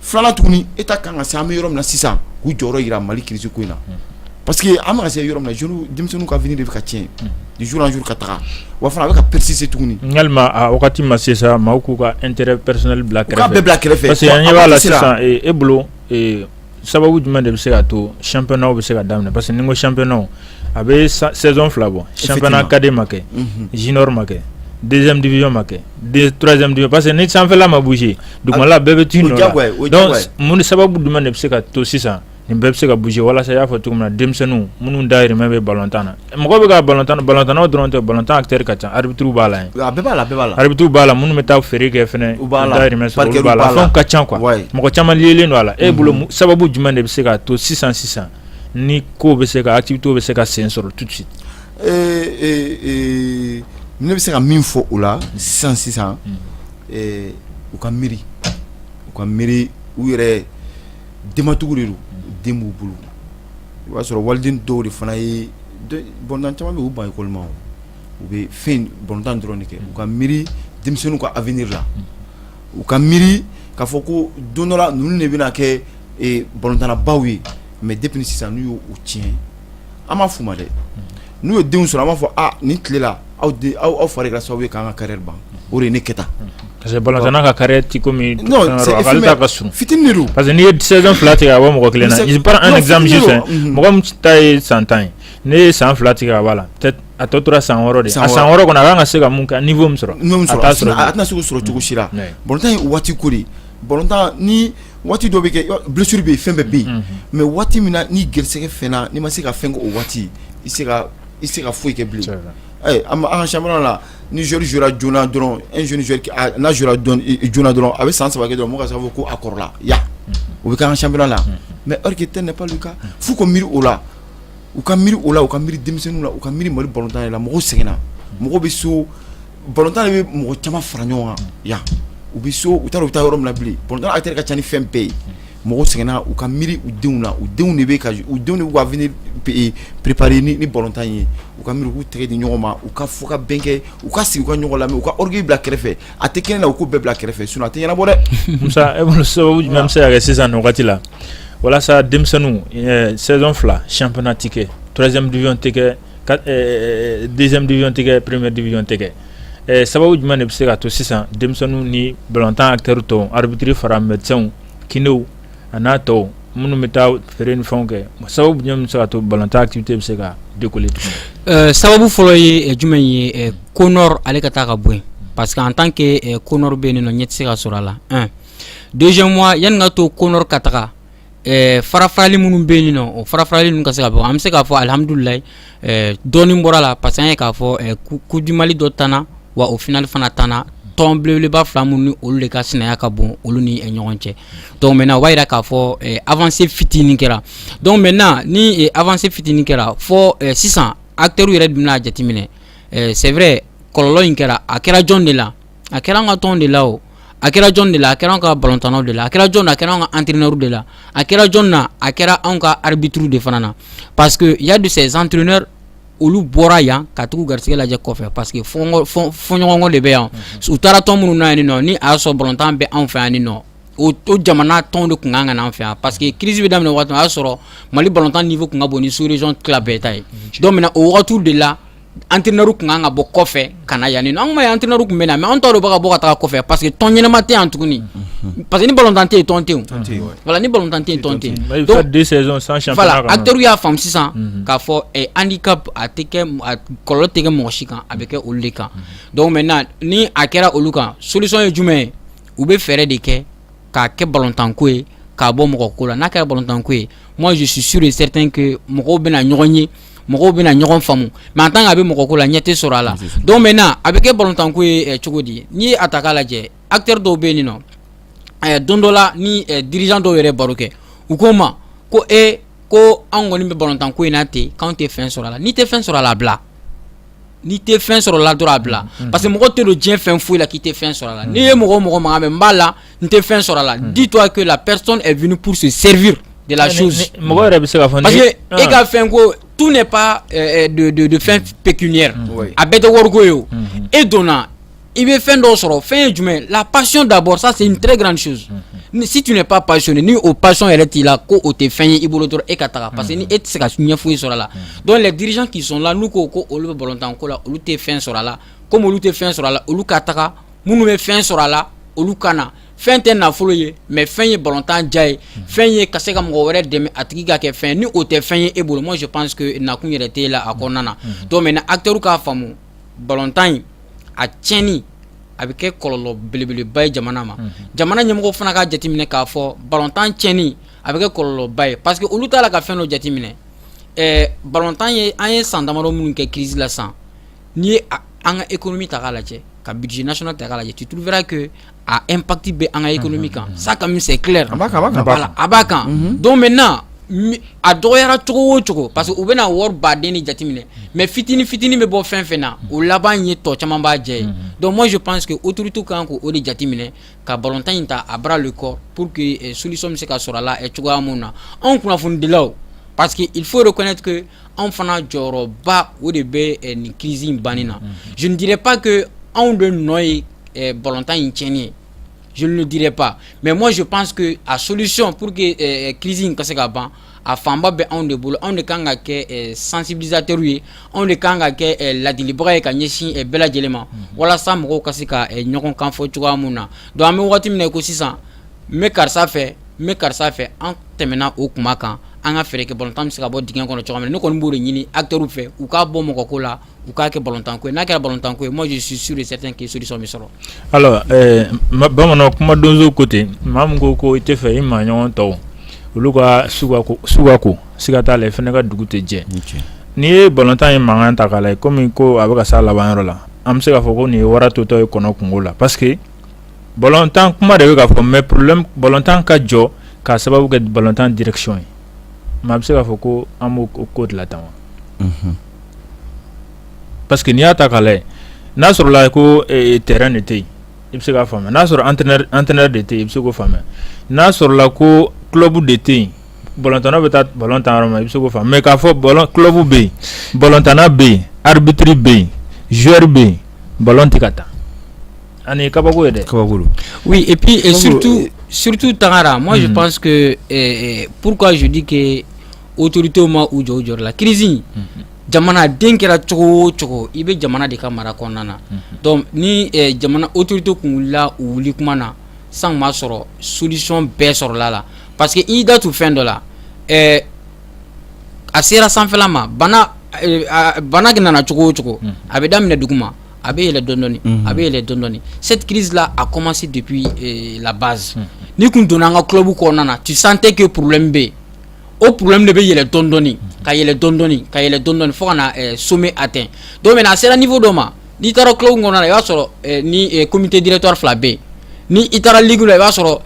filanan tuguni État kan ka se an bɛ yɔrɔ min na sisan k'u jɔyɔrɔ yira Mali crise ko in na parce que an bɛ ka se yɔrɔ min na jeunes denmisɛnninw ka avenir de bɛ ka tiɲɛ de jour en jour ka taga wa fana a bɛ ka persister tuguni yalima a wagati ma se sa maaw k'u ka intérêt personnel bila kɛrɛfɛ u k'a bɛɛ bila kɛrɛfɛ parce que an ɲɛ b'a la sisan e bolo sababu jumɛn de bɛ se ka to championnat bɛ se ka daminɛ parce que ni n ko championnat a bɛ saison fila bɔ championnat cadet ma kɛ junior ma kɛ deuxième division ma kɛ troisième division parce que ni sanfɛla ma bouger dugumala bɛɛ bɛ t'i nɔ la donc mun ni sababu jumɛn de bɛ se ka to sisan nin bɛɛ bɛ se ka bouger walasa i y'a fɔ cogo min na denmisɛnninw minnu dayirimɛ bɛ balontan na mɔgɔ bɛ ka balontan na balontannaw dɔrɔn tɛ balontan acteurs ka ca arbitres b'a la yen a bɛɛ b'a la a bɛɛ b'a la arbitres b'a la minnu bɛ taa feere kɛ fɛnɛ u b'a la dayirimɛ sɔrɔ olu b'a la fɛnw ka ca quoi mɔgɔ caman liélen don a la e bolo sababu jumɛn de bɛ se ka to sisan sisan ni ko bɛ se ka activité bɛ se ka sen sɔrɔ tout de suite ne bɛ se ka min fɔ o la sisan sisan u ka miiri u ka miiri u yɛrɛ denmatigiw de don den b'u bolo i b'a sɔrɔ waliden dɔw de fana ye balontan caman bɛ u ban école ma u bɛ fɛn balontan dɔrɔn de kɛ u ka miiri denmisɛnninw ka avenir la u ka miiri k'a fɔ ko don dɔ la ninnu de bɛna kɛ balontannabaw ye mais depuis sisan n'u y'o tiɲɛ an m'a f'u ma dɛ n'u ye denw sɔrɔ an b'a fɔ nin tile la aw aw fa de kɛra sababu ye k'an ka carrière ban o de ne kɛta parce que balontanna ka carrière ti komi ale ta ka surun fitinin don parce que n'i ye saison fila tigɛ ka bɔ mɔgɔ kelen na je prends un exemple mɔgɔ min ta ye san tan ye Ne ye san fila tigɛ a b'a la a tɔ tora san de san san wɛrɛ kɔnɔ a ka se ka mun kan fɔ min sɔrɔ a tɛna segu sɔrɔ cogo si la bɔnta ye waati ko de bɔntan ni waati dɔ bɛ kɛ bilisisiri bɛ yen fɛn bɛɛ bɛ yen mɛ waati min na ni garigɛ fɛn na ni ma se ka fɛn o waati i se ka foyi kɛ bi an an sa la ni z z joona dɔrɔn joona dɔrɔn a bɛ san saba dɔrɔn mɔgɔ sababu ko a kɔrɔla ya o bɛ kɛ an sa la mɛ alike tɛ ne kan fu ko miiri o la u ka miiri o la u ka miiri denmisɛnninw la u ka miiri Mali balontan de la mɔgɔw sɛgɛnna mɔgɔw bɛ so balontan de bɛ mɔgɔ caman fara ɲɔgɔn kan yan u bɛ so u t'a dɔn u bɛ taa yɔrɔ min bilen balontan acteur ka ca ni fɛn bɛɛ ye mɔgɔw sɛgɛnna u ka miiri u denw na u denw de bɛ u ka avenir préparer ni ni balontan ye u ka miiri u k'u tɛgɛ di ɲɔgɔn ma u ka fɔ ka bɛn kɛ u ka sigi u ka ɲɔgɔn lamɛn u ka orgueil bila kɛrɛfɛ a tɛ kɛnɛ na u k'o bɛɛ bila kɛrɛfɛ sinon a tɛ ɲɛnabɔ dɛ Musa e bolo sababu jumɛn bɛ se ka kɛ sisan nin wagati la walasa denmisɛnninw saison fila championnat tɛ kɛ troisième division tɛ kɛ deuxième division tɛ kɛ première division tɛ kɛ sababu jumɛn de bɛ se ka to sisan denmisɛnninw ni balontan acteur tɔw arbitre fara médecinw kinéw a n'a tɔw minnu bɛ taa feere ni fɛnw kɛ sababu jumɛn bɛ se ka to balontan activité bɛ se ka décoller tuguni. Sababu fɔlɔ ye jumɛn ye CONOR ale ka taa ka bɔ yen parce que en tant que CONOR bɛ yen nɔ ɲɛ tɛ se ka sɔrɔ a la un deuxièmement yanni ka to CONOR ka taga farafarali minnu bɛ yen nɔ o farafarali ninnu ka se ka bɔ an bɛ se k'a fɔ alihamudulilayi dɔɔnin bɔra la parce que an ye k'a fɔ Coupe du Mali dɔ tanna wa o finale fana tanna tɔn belebeleba fila minnu ni olu de ka sinaya ka bon olu ni ɲɔgɔn cɛ donc maintenant o b'a jira k'a fɔ avancée fitinin kɛra donc maintenant ni avancée fitinin kɛra fɔ sisan acteurw yɛrɛ de bɛn'a jateminɛ c'est vrai kɔlɔlɔ in kɛra a kɛra jɔn de la a kɛra an ka tɔn de la o a kɛra jɔn de la a kɛra an ka balontannaw de la a kɛra jɔn na a kɛra an ka entraîneurs de la a kɛra jɔn na a kɛra anw ka arbitres de fana na parce que y a de ces entraîneurs olu bɔra yan ka taga u garisɛgɛ lajɛ kɔfɛ parce que fɔɲɔgɔnkɔ de bɛ yan u taara tɔn minnu na yan nɔ ni a y'a sɔrɔ balontan bɛ anw fɛ yan nin nɔ o jamana tɔnw de tun kan ka na an fɛ yan parce que crise bɛ daminɛ waati min o y'a sɔrɔ mali balontan niveau tun ka bon ni sous-région tila bɛɛ ta ye donc maintenant o wagati de la entraîneur tun kan ka bɔ kɔfɛ ka na yan nɔ an ma ye entraîneur tun bɛ na mais an ta dɔw bɛ ka bɔ ka taa kɔfɛ parce que tɔn ɲɛnama tɛ yan tuguni parce que ni balontan tɛ yen tɔn tɛ yen voilà ni balontan tɛ yen tɔn tɛ yen acteurs y'a faamu sisan mhm. k'a fɔ eh, handicap kɔlɔlɔ tɛ kɛ mɔgɔ si kan a bɛ kɛ olu de kan mhm. donc maintenant ni a kɛra olu kan solution ye jumɛn ye u bɛ fɛɛrɛ de kɛ k'a kɛ balontanko ye k'a bɔ mɔgɔ ko la n'a kɛra balontanko ye moi je suis sûr et certain que mɔgɔw bɛna ɲɔgɔn ye mɔgɔw bɛna ɲɔgɔn faamu mais en tant que a bɛ mɔgɔ ko la ɲɛ tɛ sɔrɔ a la donc maintenant a bɛ kɛ balontanko ye cogo di n'i ye a ta k'a lajɛ acteurs dɔw bɛ yen nin nɔ don dɔ la ni dirigeant dɔw yɛrɛ baro kɛ u ko n ma ko e ko anw kɔni bɛ balontanko in na ten k'anw tɛ fɛn sɔrɔ a la n'i tɛ fɛn sɔrɔ a la a bila n'i tɛ fɛn sɔrɔ a la dɔrɔn a bila parce que mɔgɔ tɛ don diɲɛ fɛn foyi la k'i tɛ fɛn sɔrɔ a la n'i ye mɔgɔ o mɔgɔ mankan mɛn n b'a la n tɛ fɛn sɔrɔ a la dis-toi que la personne est venue pour se servir de la chose mɔgɔ yɛrɛ bɛ se ka fɔ parce que e ka fɛn ko tout n'est pas euh, de de de fin pécuniaire a bɛɛ tɛ wariko ye o e donna i bɛ fɛn dɔw sɔrɔ fɛn ye jumɛn ye la passion d'abord ça c'est une très grande chose si tu n'es pas passionné ni o passion yɛrɛ t'i la ko o tɛ fɛn ye i bolo dɔrɔn e ka taga parce que ni e tɛ se ka ɲɛ foyi sɔrɔ a la donc les dirigeants qui sont là n'u ko ko olu bɛ balontanko la olu tɛ fɛn sɔrɔ a la comme olu tɛ fɛn sɔrɔ a la olu ka taga minnu bɛ fɛn sɔrɔ a la olu ka na fɛn tɛ nafolo ye mais fɛn ye balontan diya ye fɛn ye ka se ka mɔgɔ wɛrɛ dɛmɛ a tigi ka kɛ fɛn ni o tɛ fɛn ye e bolo moi je pense que nakun yɛrɛ t'i la a kɔnɔna na donc maintenant acteurs k'a faamu balontan in a tiɲɛni a bɛ kɛ kɔlɔlɔ belebeleba ye jamana ma jamana ɲɛmɔgɔ fana k'a jateminɛ k'a fɔ balontan cɛni a bɛ kɛ kɔlɔlɔba ye parce que olu t'a la ka fɛn dɔ jateminɛ balontan ye an ye san damadɔ minnu kɛ crise la san n'i ye an ka e min ta lajɛ ka bidi nas ta lajɛ ci tuuru wɛrɛ ke a e pati bɛ an ka e min kan sa ka misɛ ki a b'a kan don bɛ na a dɔgɔyara cogo o cogo parce que u bɛna wari baden ni jateminɛ mɛ fitinin fitinin bɛ bɔ fɛn fɛn na o laban ye tɔ caman b'a jɛ ye dɔn mɔnsi pan que o tuurutu kan k' o de jateminɛ ka batan in ta a bara de kɔ pour que solisɔn bɛ se ka sɔrɔ a la cogoya min na anw kunnafonidilaw parce que il fo de kɔnɛtigi anw fana jɔyɔrɔba o de bɛ eh, nin crise in banni na mm, mm, mm. je ne dirais pas que anw de nɔ ye eh, balontan in tiɲɛni ye je ne le dirais pas mais moi je pense que a solution pour que eh, crise in ka se ka ban a fanba bɛ anw de bolo anw de kan ka kɛ sensibilisateur ye anw de kan ka kɛ ladilibaga ye ka ɲɛsin bɛɛ lajɛlen ma walasa mɔgɔw ka se ka ɲɔgɔn kan fɔ cogoya min na donc an bɛ wagati min na ko sisan n bɛ karisa fɛ n bɛ karisa fɛ an tɛmɛna o kuma kan an ka fɛɛrɛ kɛ balontan bɛ se ka bɔ dingɛ kɔnɔ cogo min na ne kɔni b'o de ɲini acteurw fɛ u k'a bɔ mɔgɔ ko la u k'a kɛ balontan ko ye n'a kɛra balontan ko ye moi je suis sûr et certain que solution bɛ sɔrɔ alors bamanan kuma donso ko ten maa min ko ko i t'a fɛ i maa ɲɔgɔn tɔw olu ka su ka ko siga t'a la i fana ka dugu tɛ jɛ n'i ye balontan in mankan ta k'a lajɛ kɔmi ko a bɛ ka sa a laban yɔrɔ la an bɛ se k'a fɔ ko nin ye wara totɔ ye kɔnɔ kungo la parce balontan kuma de bɛ ka fɔ mais problème balontan ka jɔ k'a sababu kɛ balontan direction ye maa bɛ se k'a fɔ ko an b'o ko dilan tan wa parce que n'i y'a ta k'a lajɛ n'a sɔrɔla ko terrain de tɛ yen i bɛ se k'a faamuya n'a sɔrɔ entraîneur de tɛ yen i bɛ se k'o faamuya n'a sɔrɔla ko club de tɛ yen batan bɛ taa batan yɔrɔ ma i bɛ se fɔ mɛ k'a fɔ kubu bɛ yen batan bɛ yen arabitiri bɛ yen zori bɛ yen ba tɛ ka taa ani kabako yɛrɛ kaba eptu surutu tagara ma pan purkazodike otote ma u jɔ jɔyɔrɔ la kiz jamana den kɛra cogo cogo i bɛ jamana de ka mara kɔnɔna na ni jamana otote tun wulila u wuli kuma na san b'a sɔrɔ solisɔn bɛɛ sɔrɔla la parce que i da tun fɛn dɔ la ɛɛ a sera sanfɛla ma bana bana nana cogo o cogo a bɛ daminɛ dugu ma a bɛ yɛlɛ dɔndɔni a bɛ yɛlɛ dɔndɔni cette crise là a commencé depuis la base n'i kun donna an ka club kɔnɔna na tu sentais que problème bɛ yen o problème de bɛ yɛlɛ dɔndɔni ka yɛlɛ dɔndɔni ka yɛlɛ dɔndɔni fo ka na sommet atteint donc maintenant a sera niveau dɔ ma n'i taara club kɔnɔna i b'a sɔrɔ ni comité directeur fila bɛ yen ni i taara ligue la i b'a sɔrɔ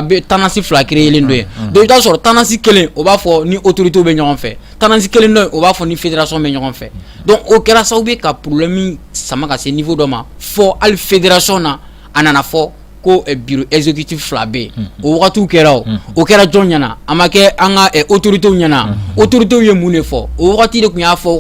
bɛ tendance fila créélen don yen donc i t'a sɔrɔ tendance kelen o b'a fɔ ni autoritéw bɛ ɲɔgɔn fɛ tendance kelen dɔ o b'a fɔ ni fédération bɛ ɲɔgɔn fɛ donc o kɛra sababu ye ka problème in sama ka se niveau dɔ ma fo hali fédération na a nana fɔ ko bureau exécutif fila bɛ yen o wagati kɛra o o kɛra jɔn ɲɛna a ma kɛ an ka autoritéw ɲɛna autoritéw ye mun de fɔ o wagati de tun y'a fɔ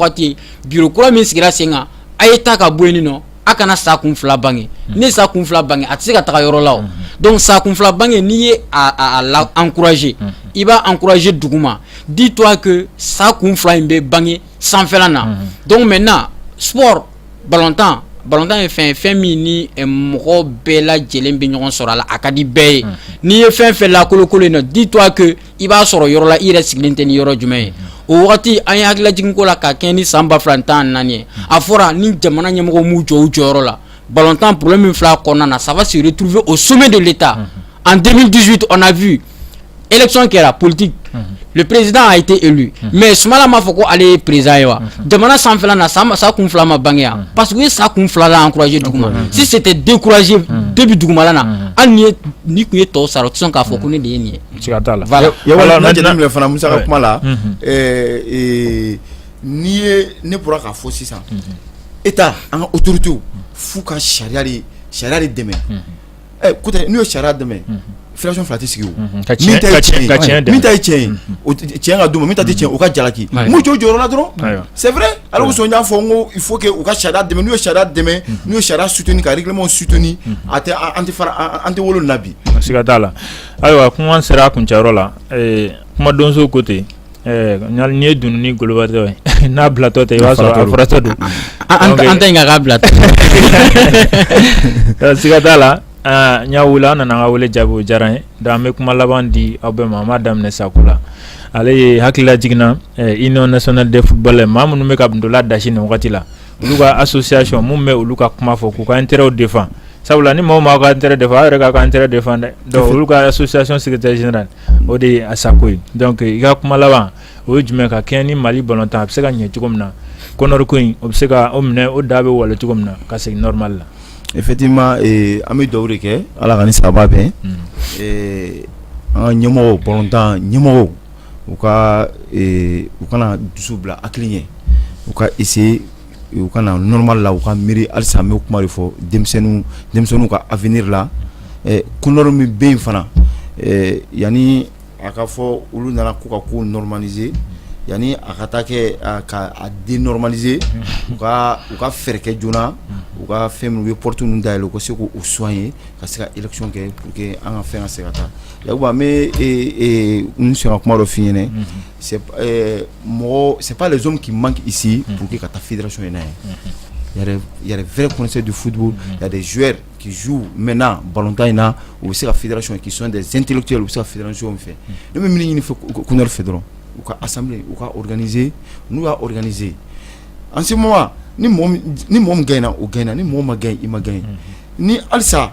Biro kura min sigira sen kan a y'a ta ka bɔ yen nɔ a kana sa kun fila bange ni sa kun fila bange a tɛ se ka taga yɔrɔ la wo donc sa kun fila bange n'i y'a la encourager i b'a encourager dugu ma dis-toi que sa kun fila in bɛ bange sanfɛla na donc maintenant sport balontan balontan ye fɛn fɛn min ni mɔgɔ bɛɛ lajɛlen bɛ ɲɔgɔn sɔrɔ a la a ka di bɛɛ ye n'i ye fɛn fɛn lakolokolon in na dis-toi que i b'a sɔrɔ yɔrɔ la i yɛrɛ sigilen tɛ ni yɔrɔ jumɛn ye o wagati an ye hakililajiginko la ka kɛɲɛ ni san ba fila tan naani ye a fɔra ni jamana ɲɛmɔgɔ m'u jɔ u jɔyɔrɔ la balontan problème min filɛ kɔnɔna na ça va se retrouver au sommet de l'État en 2018 on a vu élection kɛra politique le président a été élu mais Sumala m'a fɔ ko ale ye président ye wa jamana sanfɛla na sa kun fila ma bange yan parce que u ye sa kun fila la encourager duguma si c'était décourager début dugumala na hali ni ye ni kun ye tɔw sara u tɛ sɔn k'a fɔ ko ne de ye nin ye Siga t'a la voilà i ye wali n'a jateminɛ voilà fana Musa ka kuma la unhun ɛɛ ee n'i ye ne bɔra k'a fɔ sisan unhun Etat an ka autorités w f'u ka sariya de sariya de dɛmɛ unhun ɛ écoutez n'u ye sariya dɛmɛ unhun fédération 2 tɛ sigi o unhun ka tiɲɛ ka tiɲɛ ka tiɲɛ dɛmɛ min ta ye tiɲɛ ye unhun o t t tiɲɛ ka d'u ma min ta tɛ tiɲɛ ye o ka jalaki ayiwa m'u jɔ u jɔyɔrɔ la dɔrɔn ayiwa c'est vrai o de kosɔn n y'a fɔ n ko il faut que u ka sariya dɛmɛ n'u ye sariya dɛmɛ unhun n'u ye sariya soutenir ka règlement w soutenir unhun a tɛ a an tɛ fara a a an tɛ wolo nin na bi siga t'a la Ayiwa kuma sera a kuncɛyɔrɔ la ɛɛ kumadonso ko ten ɛɛ ɲari n'i ye dununi golobatɔ ye ɛ n'a bilatɔ tɛ i b'a sɔrɔ a faratɔ don, an ta in ka kɛ a bilatɔ, siga t'a la aa n y'aw wele aw nana an ka wele jaabi o diyara n ye donc an bɛ kuma laban di aw bɛɛ ma an b'a daminɛ Sako la ale ye hakililajigin na ɛ union nationale des footballeurs maa minnu bɛ ka ntola dasi nin wagati la Olu ka association min bɛ olu ka kuma fɔ k'u ka intérêts défend sabula ni mɔgɔ m'aw ka intérêt défend aw yɛrɛ k'aw ka intérêt défend dɛ donc olu ka association secrétaire général o de ye a Sako ye donc i ka kuma laban o ye jumɛn ye ka kɛɲɛ ni Mali balontan a bɛ se ka ɲɛ cogo min na CONOR ko in o bɛ se ka o minɛ o da bɛ wale cogo min na ka segin normal la effectivement ee an bɛ dugawu de kɛ Ala ka nin sababu bɛn ee an ka ɲɛmɔgɔw balontan ɲɛmɔgɔw u ka u kana dusu bila hakili ɲɛ u ka essayer u ka na normal la u ka miiri halisa an bɛ kuma de fɔ denmisɛnninw ka avenir la CONOR min bɛ yen fana yanni a ka fɔ olu nana k'u ka ko normaliser yanni a ka taa kɛ ka dénormaliser u ka u ka fɛɛrɛ kɛ joona u ka fɛn u ye porte minnu dayɛlɛ u ka se k'u soigner ka se ka élection kɛ pour que an ka fɛn ka se ka taa Ya n bɛ n sɔnna kuma dɔ fy mɔgɔ sep de k'i man kisi b'u kɛ ka taa fira so in'a ye yɛrɛɛrɛ kɔnɛse de fudu la de zouɛ k'i zu mɛnna balotan in na u bɛ se ka fira son k'i sɔn ntɛnte cɛ u bɛ se ka firaran so fɛ ne bɛ min ɲini fɛ kun fɛ dɔrɔn u ka asa u ka ze n'u ka ze an se ni mɔgɔ gɛnna u gɛn na ni mɔgɔ ma gɛn i ma gɛn ni alisa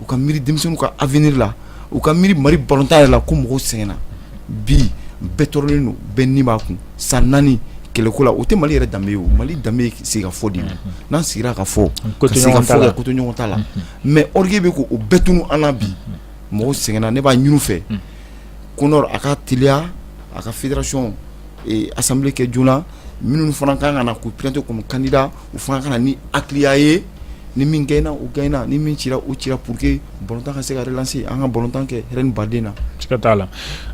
u ka miiri denmisɛnninw ka avenir la u ka miiri mali ballon tan yɛrɛ la ko mɔgɔw sɛgɛnna bi bɛɛ tɔɔrɔlen don bɛɛ ni b'a kun san naani kɛlɛko la o tɛ mali yɛrɛ danbe ye o mali danbe bɛ sigi ka fɔ de la n'an sigira ka fɔ ka ko to ɲɔgɔn ta la mais orgueil bɛ ko o bɛɛ tunun an na bi mɔgɔw sɛgɛnna ne b'a ɲinin u fɛ Kɔnɔri a ka teliya a ka fédération assemblée kɛ joona minnu fana kan ka na k'u présenter comme candidat u fana ka na ni hakiliya ye ni min gagna o gagna ni min cira o cira pour que ballon tan ka se ka relancer an ka ballon tan kɛ hɛrɛ ni baden na. Siga t'a la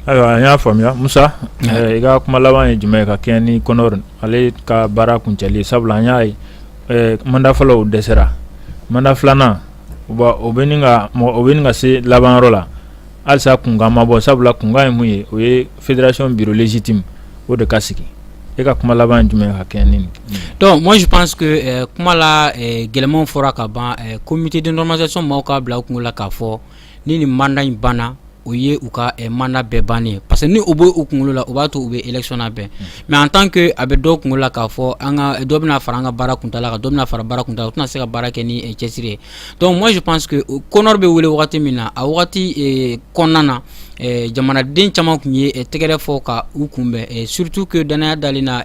ayiwa an y'a faamuya Musa ɛɛ i ka kuma laban ye jumɛn ye ka kɛɲɛ ni Kɔnɔri ale ka baara kuncɛli ye sabula an y'a ye ɛɛ mandat fɔlɔ o dɛsɛra mandat filanan o bɛ ɲini ka mɔgɔ o bɛ ɲini ka se laban yɔrɔ la. halisa kunkan ma bɔ sabula kunkan ye mun ye o ye fédération bureau légitime o de ka sigi e ka kuma laban ye jumɛn ye ka kɛɲɛ ni nin ye donc moi je pense que euh, kuma la euh, gɛlɛmanw fɔra ka ban euh, comité de normalisation maaw k'a bila u kunkolo la k'a fɔ ni nin mandat in banna o ye u ka eh, mandat bɛɛ bannen ye parce que ni o bɛ u kunkolo la o b'a to u bɛ élection labɛn mais en tant que a bɛ dɔw kunkolo la k'a fɔ an ka dɔ bɛna fara an ka baara kuntaala kan dɔ bɛna fara baara kuntaala kan u tɛna se ka baara kɛ ni eh, cɛsiri ye donc moi je pense que Kɔnɔri bɛ wele wagati min na a wagati kɔnɔna na jamanaden caman tun ye tɛgɛrɛ fɔ ka u kunbɛn surtout que dannaya dalen na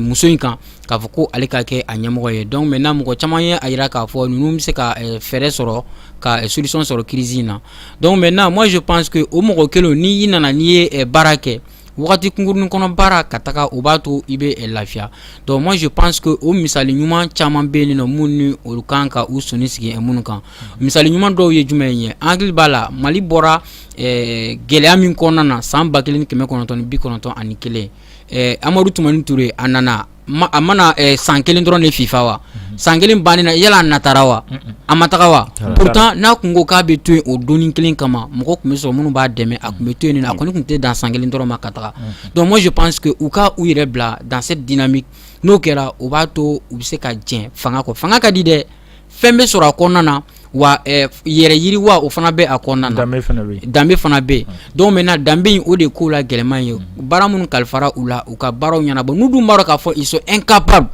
muso in kan k'a fɔ ko ale ka kɛ a ɲɛmɔgɔ ye donc maintenant mɔgɔ caman ye a jira k'a fɔ ninnu bɛ se ka fɛɛrɛ sɔrɔ ka solution sɔrɔ crise in na donc maintenant moi je pense que o mɔgɔ kelen ni i nana n'i ye baara kɛ wagati kunkurunnin kɔnɔ baara ka taga o b'a to i bɛ lafiya donc moi je pense que o misali ɲuman caman bɛ yen nɔ minnu ni olu kan ka u sɔnni sigi minnu kan misali ɲuman dɔw ye jumɛn ye an hakili b'a la Mali bɔra gɛlɛya min kɔnɔna na san ba kelen ni kɛmɛ kɔnɔntɔn ni bi kɔnɔntɔn ani kelen Amadu Tumani Ture a nana a ma na san kelen dɔrɔn de fifa wa san kelen bannen na yala natara wa a ma taga wa pourtant n'a tun ko k'a bɛ to yen o donni kelen kama mɔgɔ tun bɛ sɔrɔ minnu b'a dɛmɛ a tun bɛ to yen a kɔni tun tɛ dan san kelen dɔrɔn ma ka taga donc moi je pense que u ka u yɛrɛ bila dans cette dynamique n'o kɛra o b'a to u bɛ se ka jɛn fanga kɔ fanga ka di dɛ fɛn bɛ sɔrɔ a kɔnɔna na wa yɛrɛ yiriwa o fana bɛ a kɔnɔna na danbe fana bɛ yen donc maintenant danbe in o de ko la gɛlɛman ye baara minnu kalifara u la u ka baaraw ɲɛnabɔ n'u dun b'a dɔn k'a fɔ ils sont incapables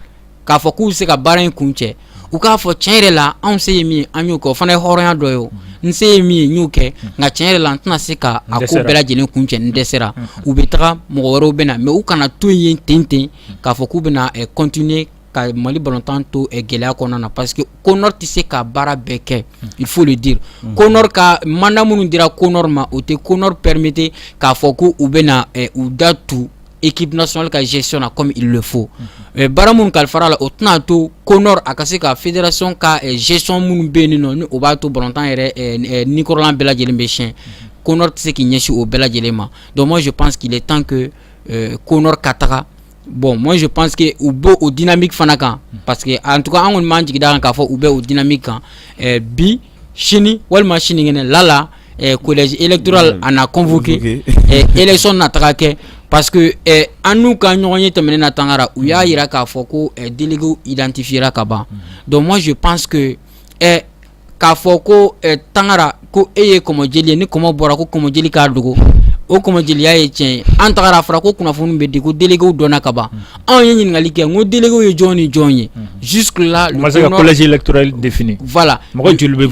k'a fɔ k'u bɛ se ka baara in kuncɛ u k'a fɔ cɛn yɛrɛ la anw se ye min ye an y'o kɛ o fana ye hɔrɔnya dɔ ye n se ye min ye n y'o kɛ nka cɛn yɛrɛ la n tɛna se k'a ko bɛɛ lajɛlen kuncɛ n dɛsɛra u bɛ taga mɔgɔ wɛrɛw bɛ na mais u kana to yen tenten k'a fɔ k'u bɛna continuer ka mali batan to gɛlɛya kɔnɔna na parce que ko tɛ se ka baara bɛɛ kɛ i fo de di ko ka man minnu dira ko ma o tɛ ko pɛremete k'a fɔ ko u bɛ u da tu ekip soli ka sisi na kɔmi i fo bara minnu kalifafara la o tɛna to ko a ka se ka feeretirirasɔn ka sisi minnu bɛ nin nɔ o b'a to btan yɛrɛ nikɔrɔlan bɛɛ lajɛlen bɛ siyɛn ko tɛ se k'i ɲɛsin o bɛɛ lajɛlen ma dɔnsi pansigi tan ko ka taga bɔn mɔ ye panse que u bɔ o dimi fana kan pa que an tɔgɔ an kɔni man jiginda kan k'a fɔ u bɛ o dimi kan bi sini walima sinikɛnɛ lala kolɛji e tora a na kɔnfɔke esɔn na taga kɛ pa que an n'u ka ɲɔgɔn ye tɛmɛnen na tangara u y'a jira k'a fɔ ko deli idtifin ka ban dɔn ye pansseke k'a fɔ ko tangara ko e ye kɔmɔ jeli ye ni kɔmɔ bɔra ko kɔmɔ jeli k'a dogo o kɔmɔ jeliya ye tiɲɛ ye an tagara a fɔra ko kunnafoni bɛ di ko déléguéw dɔnna ka ban anw ye ɲininkali kɛ ko déléguéw ye jɔn ni jɔn ye jusque-là le collège électoral défini voilà mɔgɔ joli bɛ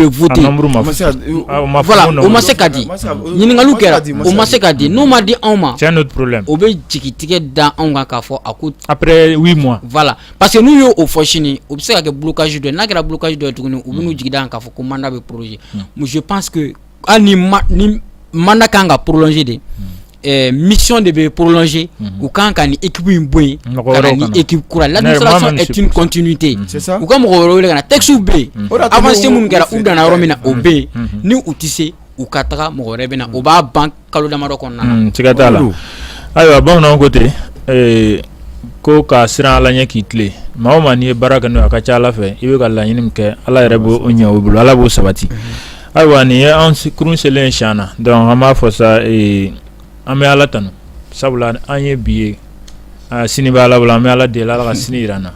voter o ma se ka di ɲininkali kɛra o ma se ka di n'o ma di anw ma c'est un autre problème o bɛ jigitigɛ da anw kan k'a fɔ a ko parce que n'u ye o fɔ sini o bɛ se ka kɛ blocage dɔ ye n'a kɛra blocage dɔ ye tuguni u bɛ n'u jigi da kan k'a fɔ ko mandat bɛ proroger mais je pense que hali ni mandat ka kan ka prolonger de ɛɛ mission de bɛ prolonger u ka kan ka nin équipe in bɔ yen ka na ni équipe kura ye l'administration est une continuité u ka mɔgɔ wɛrɛ wele ka na textes bɛ yen avancées minnu kɛra u danna yɔrɔ min na o bɛ yen ni u tɛ se u ka taga mɔgɔ wɛrɛ bɛ na o b'a ban kalo damadɔ kɔnɔna na, siga t'a la, ayiwa bamananw ko ten ko ka siran Ala ɲɛ k'i tilen maa o maa n'i ye baara kɛ n'o ye a ka ca Ala fɛ i bɛ ka laɲini min kɛ Ala yɛrɛ b'o ɲɛ i bolo Ala b'o sabati ayiwa nin ye an kurun selen ye cɛn na donc an b'a fɔ sa an bɛ Ala tanu sabula an ye bi ye sini bɛ Ala bolo an bɛ Ala deli Ala ka sini jira an na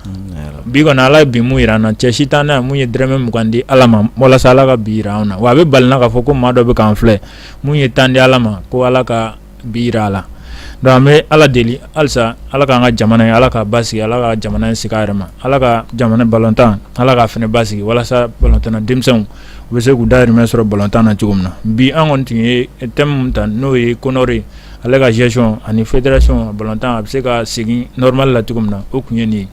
bi kɔni Ala ye bi mun jira an na cɛ si t'an na mun ye dɔrɔmɛ mugan di Ala ma walasa Ala ka bi jira an na wa a bɛ bali n na k'a fɔ ko maa dɔ bɛ k'an filɛ mun ye tan di ala ma ko ala ka bi jira a la donc an bɛ ala deli halisa ala k'an ka jamana in ala k'a basigi ala ka jamana in sigi a yɛrɛ ma ala ka jamana balontan ala k'a fana basigi walasa balontanna denmisɛnw u bɛ se k'u dahirimɛ sɔrɔ balontan na cogo min na bi an kɔni tun ye thème min ta n'o ye CONOR ye ale ka gestion ani fédération balontan a bɛ se ka segin normal la cogo min na o tun ye nin ye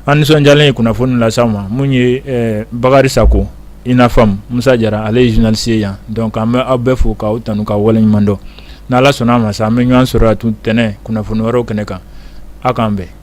An nisɔndiyalen ye kunnafoni lase aw ma mun ye ɛɛ Bakari Sako i n'a fɔ Musa Jara ale ye journaliste ye yan donc an bɛ aw bɛɛ fo k'aw tanu k'aw waleɲuman dɔn ni Ala sɔnn'a ma sa an bɛ ɲɔgɔn sɔrɔ yan tun ntɛnɛn kunnafoni wɛrɛw kɛnɛ kan aw k'an bɛn